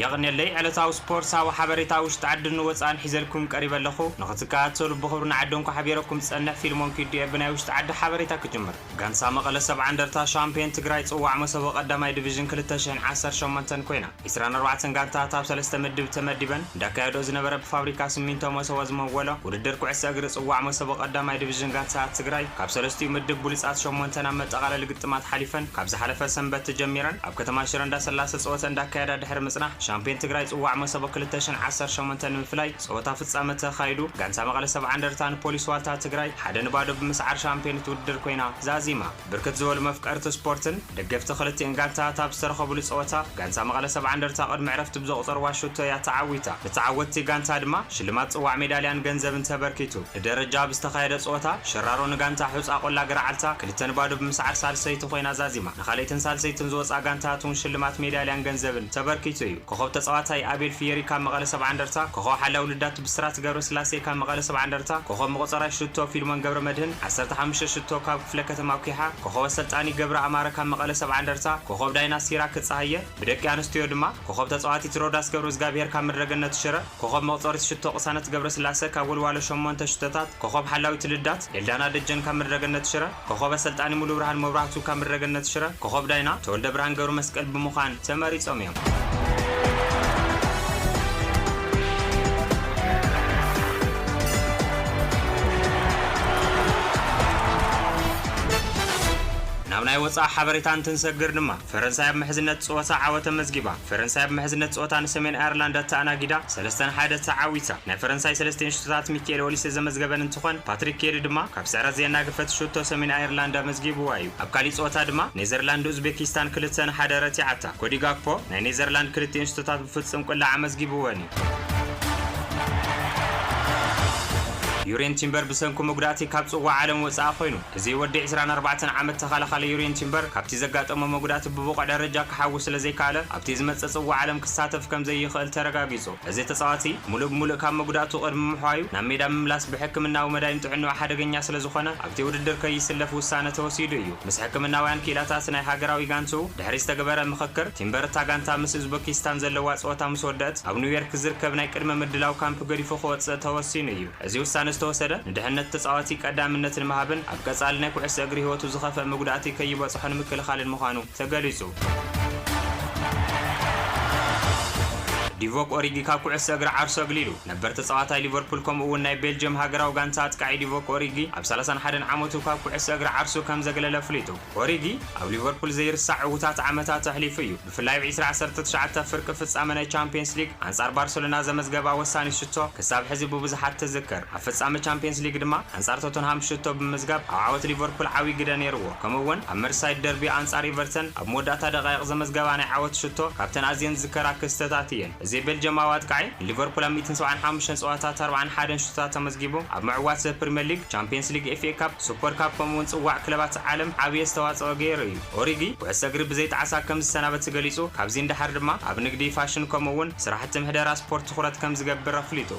የቕኔለይ ዕለታዊ ስፖርትሳዊ ሓበሬታ ውሽጢ ዓድን ወጻእን ሒዘልኩም ቀሪበ ኣለኹ። ንኽትከታተሉ ብኽብሪ ንዓዲ እንኳዕ ሓቢረኩም ዝጸንሕ ፊልሞን ኪዱ'የ ብናይ ውሽጢ ዓዲ ሓበሬታ ክጅምር። ጋንታ መቐለ ሰብዓ እንደርታ ሻምፕዮን ትግራይ ጽዋዕ መሰቦ ቀዳማይ ዲቪዥን ክልተ ሽሕን ዓሰርተ ሸሞንተን ኮይና። ዕስራን ኣርባዕተን ጋንታታት ኣብ ሰለስተ ምድብ ተመዲበን እንዳካየድኦ ዝነበረ ብፋብሪካ ስሚንቶ መሰቦ ዝመወሎ ውድድር ኩዕሶ እግሪ ፅዋዕ መሰቦ ቀዳማይ ድቪዥን ጋንታታት ትግራይ ካብ ሰለስቲኡ ምድብ ብሉፃት ሸሞንተ ናብ መጠቓለሊ ግጥማት ሓሊፈን ካብ ዝሓለፈ ሰንበት ተጀሚረን ኣብ ከተማ ሽረ እንዳሰላሰ ፀወተን እንዳካየዳ ድሕሪ ምፅናሕ ሻምፒዮን ትግራይ ፅዋዕ መሰቦ ክልተ ሽሕን ዓሰርተ ሸሞንተን ንምፍላይ ፀወታ ፍፃመ ተኻይዱ ጋንታ መቐለ ሰብዓ እንደርታ ንፖሊስ ዋልታ ትግራይ ሓደ ንባዶ ብምስዓር ሻምፒዮንት ውድድር ኮይና ዛዚማ። ብርክት ዝበሉ መፍቀርቲ ስፖርትን ደገፍቲ ክልቲኤን ጋንታታት ኣብ ዝተረኸብሉ ፀወታ ጋንታ መቐለ ሰብዓ እንደርታ ቅድሚ ዕረፍቲ ብዘቑፀርዋ ሹቶ እያ ተዓዊታ። ንተዓወትቲ ጋንታ ድማ ሽልማት ፅዋዕ ሜዳልያን ገንዘብን ተበርኪቱ። ብደረጃ ኣብ ዝተኻየደ ፀወታ ሸራሮ ንጋንታ ሑፃ ቆላ ገረዓልታ ክልተ ን ባዶ ብምስዓር ሳልሰይቲ ኮይና ዛዚማ። ንካልኣይትን ሳልሰይትን ዝወፅኣ ጋንታታት እውን ሽልማት ሜዳልያን ገንዘብን ተበርኪቱ እዩ። ኮኾብ ተፃዋታይ ኣቤል ፍየሪ ካብ መቐለ ሰብዓ እንደርታ፣ ኮኾብ ሓላዊ ልዳት፣ ብስራት ገብረስላሴ ካብ መቐለ ሰብዓ እንደርታ፣ ኮኾብ መቖጸራይ ሽቶ ፊልሞን ገብረመድህን፣ ዓሰርተ ሓሙሽተ ሽቶ፣ ካብ ክፍለ ከተማ ኩሓ፣ ኮኾብ ኣሰልጣኒ ገብረ ኣማረ ካብ መቐለ ሰብዓ እንደርታ፣ ኮኾብ ዳይና ሲራክ ጸሃየ፣ ብደቂ ኣንስትዮ ድማ፣ ኮኾብ ተጻዋቲት ሮዳስ ገብረዝጋብሄር ካብ ምድረ ገነት ሽረ፣ ኮኾብ መቑጸሪት ሽቶ ቅሳነት ገብረስላሰ ካብ ወልዋሎ ሸሞንተ ሽቶታት፣ ኮኾብ ሓላዊት ልዳት፣ ኤልዳና ደጀን ካብ ምድረ ገነት ሽረ፣ ኮኾበ ኣሰልጣኒ ሙሉብርሃን መብራህቱ ካብ ምድረገነት ሽረ፣ ኮኾብ ዳይና ተወልደብርሃን ገብረመስቀል ብምዃን ተመሪጾም እዮም። ናብ ናይ ወጻኢ ሓበሬታ እንትንሰግር ድማ፣ ፈረንሳይ ኣብ ምሕዝነት ጸወታ ዓወት ኣመዝጊባ። ፈረንሳይ ኣብ ምሕዝነት ጸወታ ንሰሜን ኣየርላንድ ኣተኣናጊዳ ሰለስተ ን ሓደ ተዓዊታ። ናይ ፈረንሳይ ሰለስቲኤን ሹቶታት ሚኪኤል ኦሊሰ ዘመዝገበን እንትኾን ፓትሪክ ኬሪ ድማ ካብ ስዕረት ዘየናገፈት ሹቶ ሰሜን ኣየርላንድ ኣመዝጊብዋ እዩ። ኣብ ካሊእ ጸወታ ድማ ኔዘርላንድ ንኡዝቤኪስታን ክልተ ን ሓደ ረቲዓታ። ኮዲ ጋክፖ ናይ ኔዘርላንድ ክልቲኤን ሹቶታት ብፍጽም ቁላዕ ኣመዝጊብወን እዩ። ዩሬን ቲምበር ብሰንኩ መጉዳእቲ ካብ ጽዋዕ ዓለም ወጻኢ ኮይኑ። እዚ ወዲ ዕስራን ኣርባዕተን ዓመት ተኸላኻሊ ዩርየን ቲምበር ካብቲ ዘጋጠሞ መጉዳእቲ ብብቑዕ ደረጃ ክሓዊ ስለዘይከኣለ ኣብቲ ዝመጽእ ጽዋዕ ዓለም ክሳተፍ ከምዘይኽእል ተረጋጊጹ። እዚ ተጻዋቲ ምሉእ ብምሉእ ካብ መጉዳእቱ ቅድሚ ምሕዋዩ ናብ ሜዳ ምምላስ ብሕክምናዊ መዳይን ጥዕንኡ ሓደገኛ ስለዝኾነ ኣብቲ ውድድር ከይስለፍ ውሳነ ተወሲዱ እዩ። ምስ ሕክምናውያን ክኢላታት ናይ ሃገራዊ ጋንትኡ ድሕሪ ዝተግበረ ምኽክር፣ ቲምበር እታ ጋንታ ምስ ኡዝበኪስታን ዘለዋ ጸወታ ምስወደእት ኣብ ኑዮርክ ዝርከብ ናይ ቅድመ ምድላው ካምፕ ገዲፉ ክወጽእ ተወሲኑ እዩ። እዚ ውሳነ ዝተወሰደ ንድሕነት ተጻዋቲ ቀዳምነት ንምሃብን ኣብ ቀጻሊ ናይ ኩዕሶ እግሪ ህይወቱ ዝኸፍእ መጉዳእቲ ከይበጽሖ ንምክልኻልን ምዃኑ ተገሊጹ። ዲቮክ ኦሪጊ ካብ ኩዕሶ እግሪ ዓርሱ ኣግሊሉ። ነበር ተጻዋታይ ሊቨርፑል ከምኡ'ውን ናይ ቤልጅየም ሃገራዊ ጋንታ ኣጥቃዒ ዲቮክ ኦሪጊ ኣብ ሰላሳን ሓደን ዓመቱ ካብ ኩዕሶ እግሪ ዓርሱ ከምዘግለለ ኣፍሊጡ። ኦሪጊ ኣብ ሊቨርፑል ዘይርሳዕ ዕዉታት ዓመታት ኣሕሊፉ እዩ፣ ብፍላይ ኣብ ዕስራ ዓሰርተ ትሽዓተ ፍርቂ ፍጻመ ናይ ቻምፕየንስ ሊግ ኣንጻር ባርሰሎና ዘመዝገባ ወሳኒት ሽቶ ክሳብ ሕዚ ብብዙሓት ትዝከር፣ ኣብ ፍጻመ ቻምፕየንስ ሊግ ድማ ኣንጻር ቶተንሃም ሽቶ ብምምዝጋብ ኣብ ዓወት ሊቨርፑል ዓብዪ ግደ ነይርዎ፣ ከምኡ'ውን ኣብ መርሲሳይድ ደርቢ ኣንጻር ኢቨርተን ኣብ መወዳእታ ደቓይቕ ዘመዝገባ ናይ ዓወት ሽቶ ካብተን ኣዝየን ዝዝከራ ክስተታት እየን። እዚ ቤልጅማዊ ኣጥቃዒ፣ ንሊቨርፑል ኣብ ሚእትን ሰብዓን ሓሙሽተን ጸወታታት ኣርብዓን ሓደን ሹቶታት ኣመዝጊቡ፣ ኣብ ምዕዋት ዘ ፕሪመር ሊግ፣ ቻምፕየንስ ሊግ፣ ኤፍኤ ካፕ፣ ሱፐር ካፕ ከምኡ'ውን ጽዋዕ ክለባት ዓለም ዓቢ ኣስተዋጽኦ ገይሩ እዩ። ኦሪጊ፣ ኩዕሶ እግሪ ብዘይ ጣዕሳ ከም ዝሰናበት ገሊጹ፣ ካብዚ ንደሓር ድማ ኣብ ንግዲ፣ ፋሽን ከምኡ'ውን ስራሕቲ ምሕደራ ስፖርት ትኹረት ከም ዝገብር ኣፍሊጡ።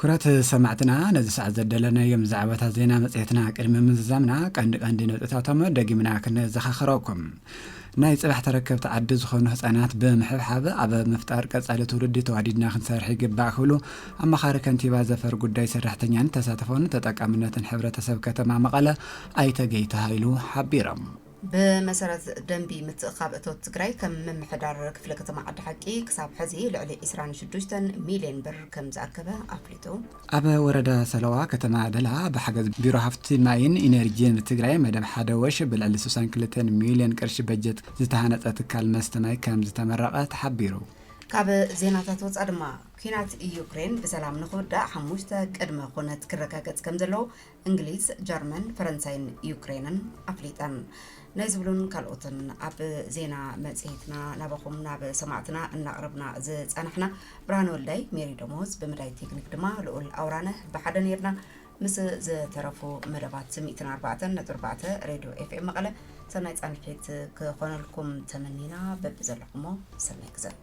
ኩረት ሰማዕትና ነዚ ሰዓት ዘደለናዮም ዛዕባታት ዜና መጽሔትና ቅድሚ ምዝዛምና ቀንዲ ቀንዲ ነጥብታቶም ደጊምና ክነዘኻኸረኩም ናይ ፅባሕ ተረከብቲ ዓዲ ዝኾኑ ህፃናት ብምሕብሓብ ኣብ ምፍጣር ቀፃሊ ትውልዲ ተዋዲድና ክንሰርሕ ይግባእ ክብሉ ኣማኻሪ ከንቲባ ዘፈር ጉዳይ ሰራሕተኛን ተሳትፎን ተጠቃምነትን ሕብረተሰብ ከተማ መቐለ ኣይተ ገይተ ሃይሉ ሓቢሮም። ብመሰረት ደንቢ ምትእኽኻብ እቶት ትግራይ ከም ምምሕዳር ክፍለ ከተማ ዓዲ ሓቂ ክሳብ ሐዚ ልዕሊ ዕስራን ሽዱሽተን ሚሊየን ብር ከምዝኣከበ ኣፍሊጡ። ኣብ ወረዳ ሰለዋ ከተማ ደላ ብሓገዝ ቢሮ ሃፍቲ ማይን ኢነርጂን ትግራይ መደብ ሓደ ወሽ ብልዕሊ ስሳን ክልተን ሚሊዮን ቅርሺ በጀት ዝተሃነፀ ትካል መስተ ማይ ከምዝተመረቐ ተሓቢሩ። ካብ ዜናታት ወፃእ ድማ፣ ኲናት ዩክሬን ብሰላም ንኽውዳእ ሓሙሽተ ቅድመ ኹነት ክረጋገፅ ከምዘለዎ እንግሊዝ፣ ጀርመን፣ ፈረንሳይን ዩክሬንን ኣፍሊጠን። ናይ ዝብሉን ካልኦትን ኣብ ዜና መጽሔትና ናባኹም ናብ ሰማዕትና እናቕረብና ዝጸናሕና ብርሃን ወልዳይ፣ ሜሪ ደሞዝ፣ ብምዳይ ቴክኒክ ድማ ልኡል ኣውራነ ብሓደ ነርና። ምስ ዝተረፉ መደባት ስሚዕትን ኣርባዕተን ነጥቢ ኣርባዕተ ሬድዮ ኤፍኤም መቐለ ሰናይ ጻንሒት ክኾነልኩም ተመኒና በብዘለኹሞ ሰናይ ግዘ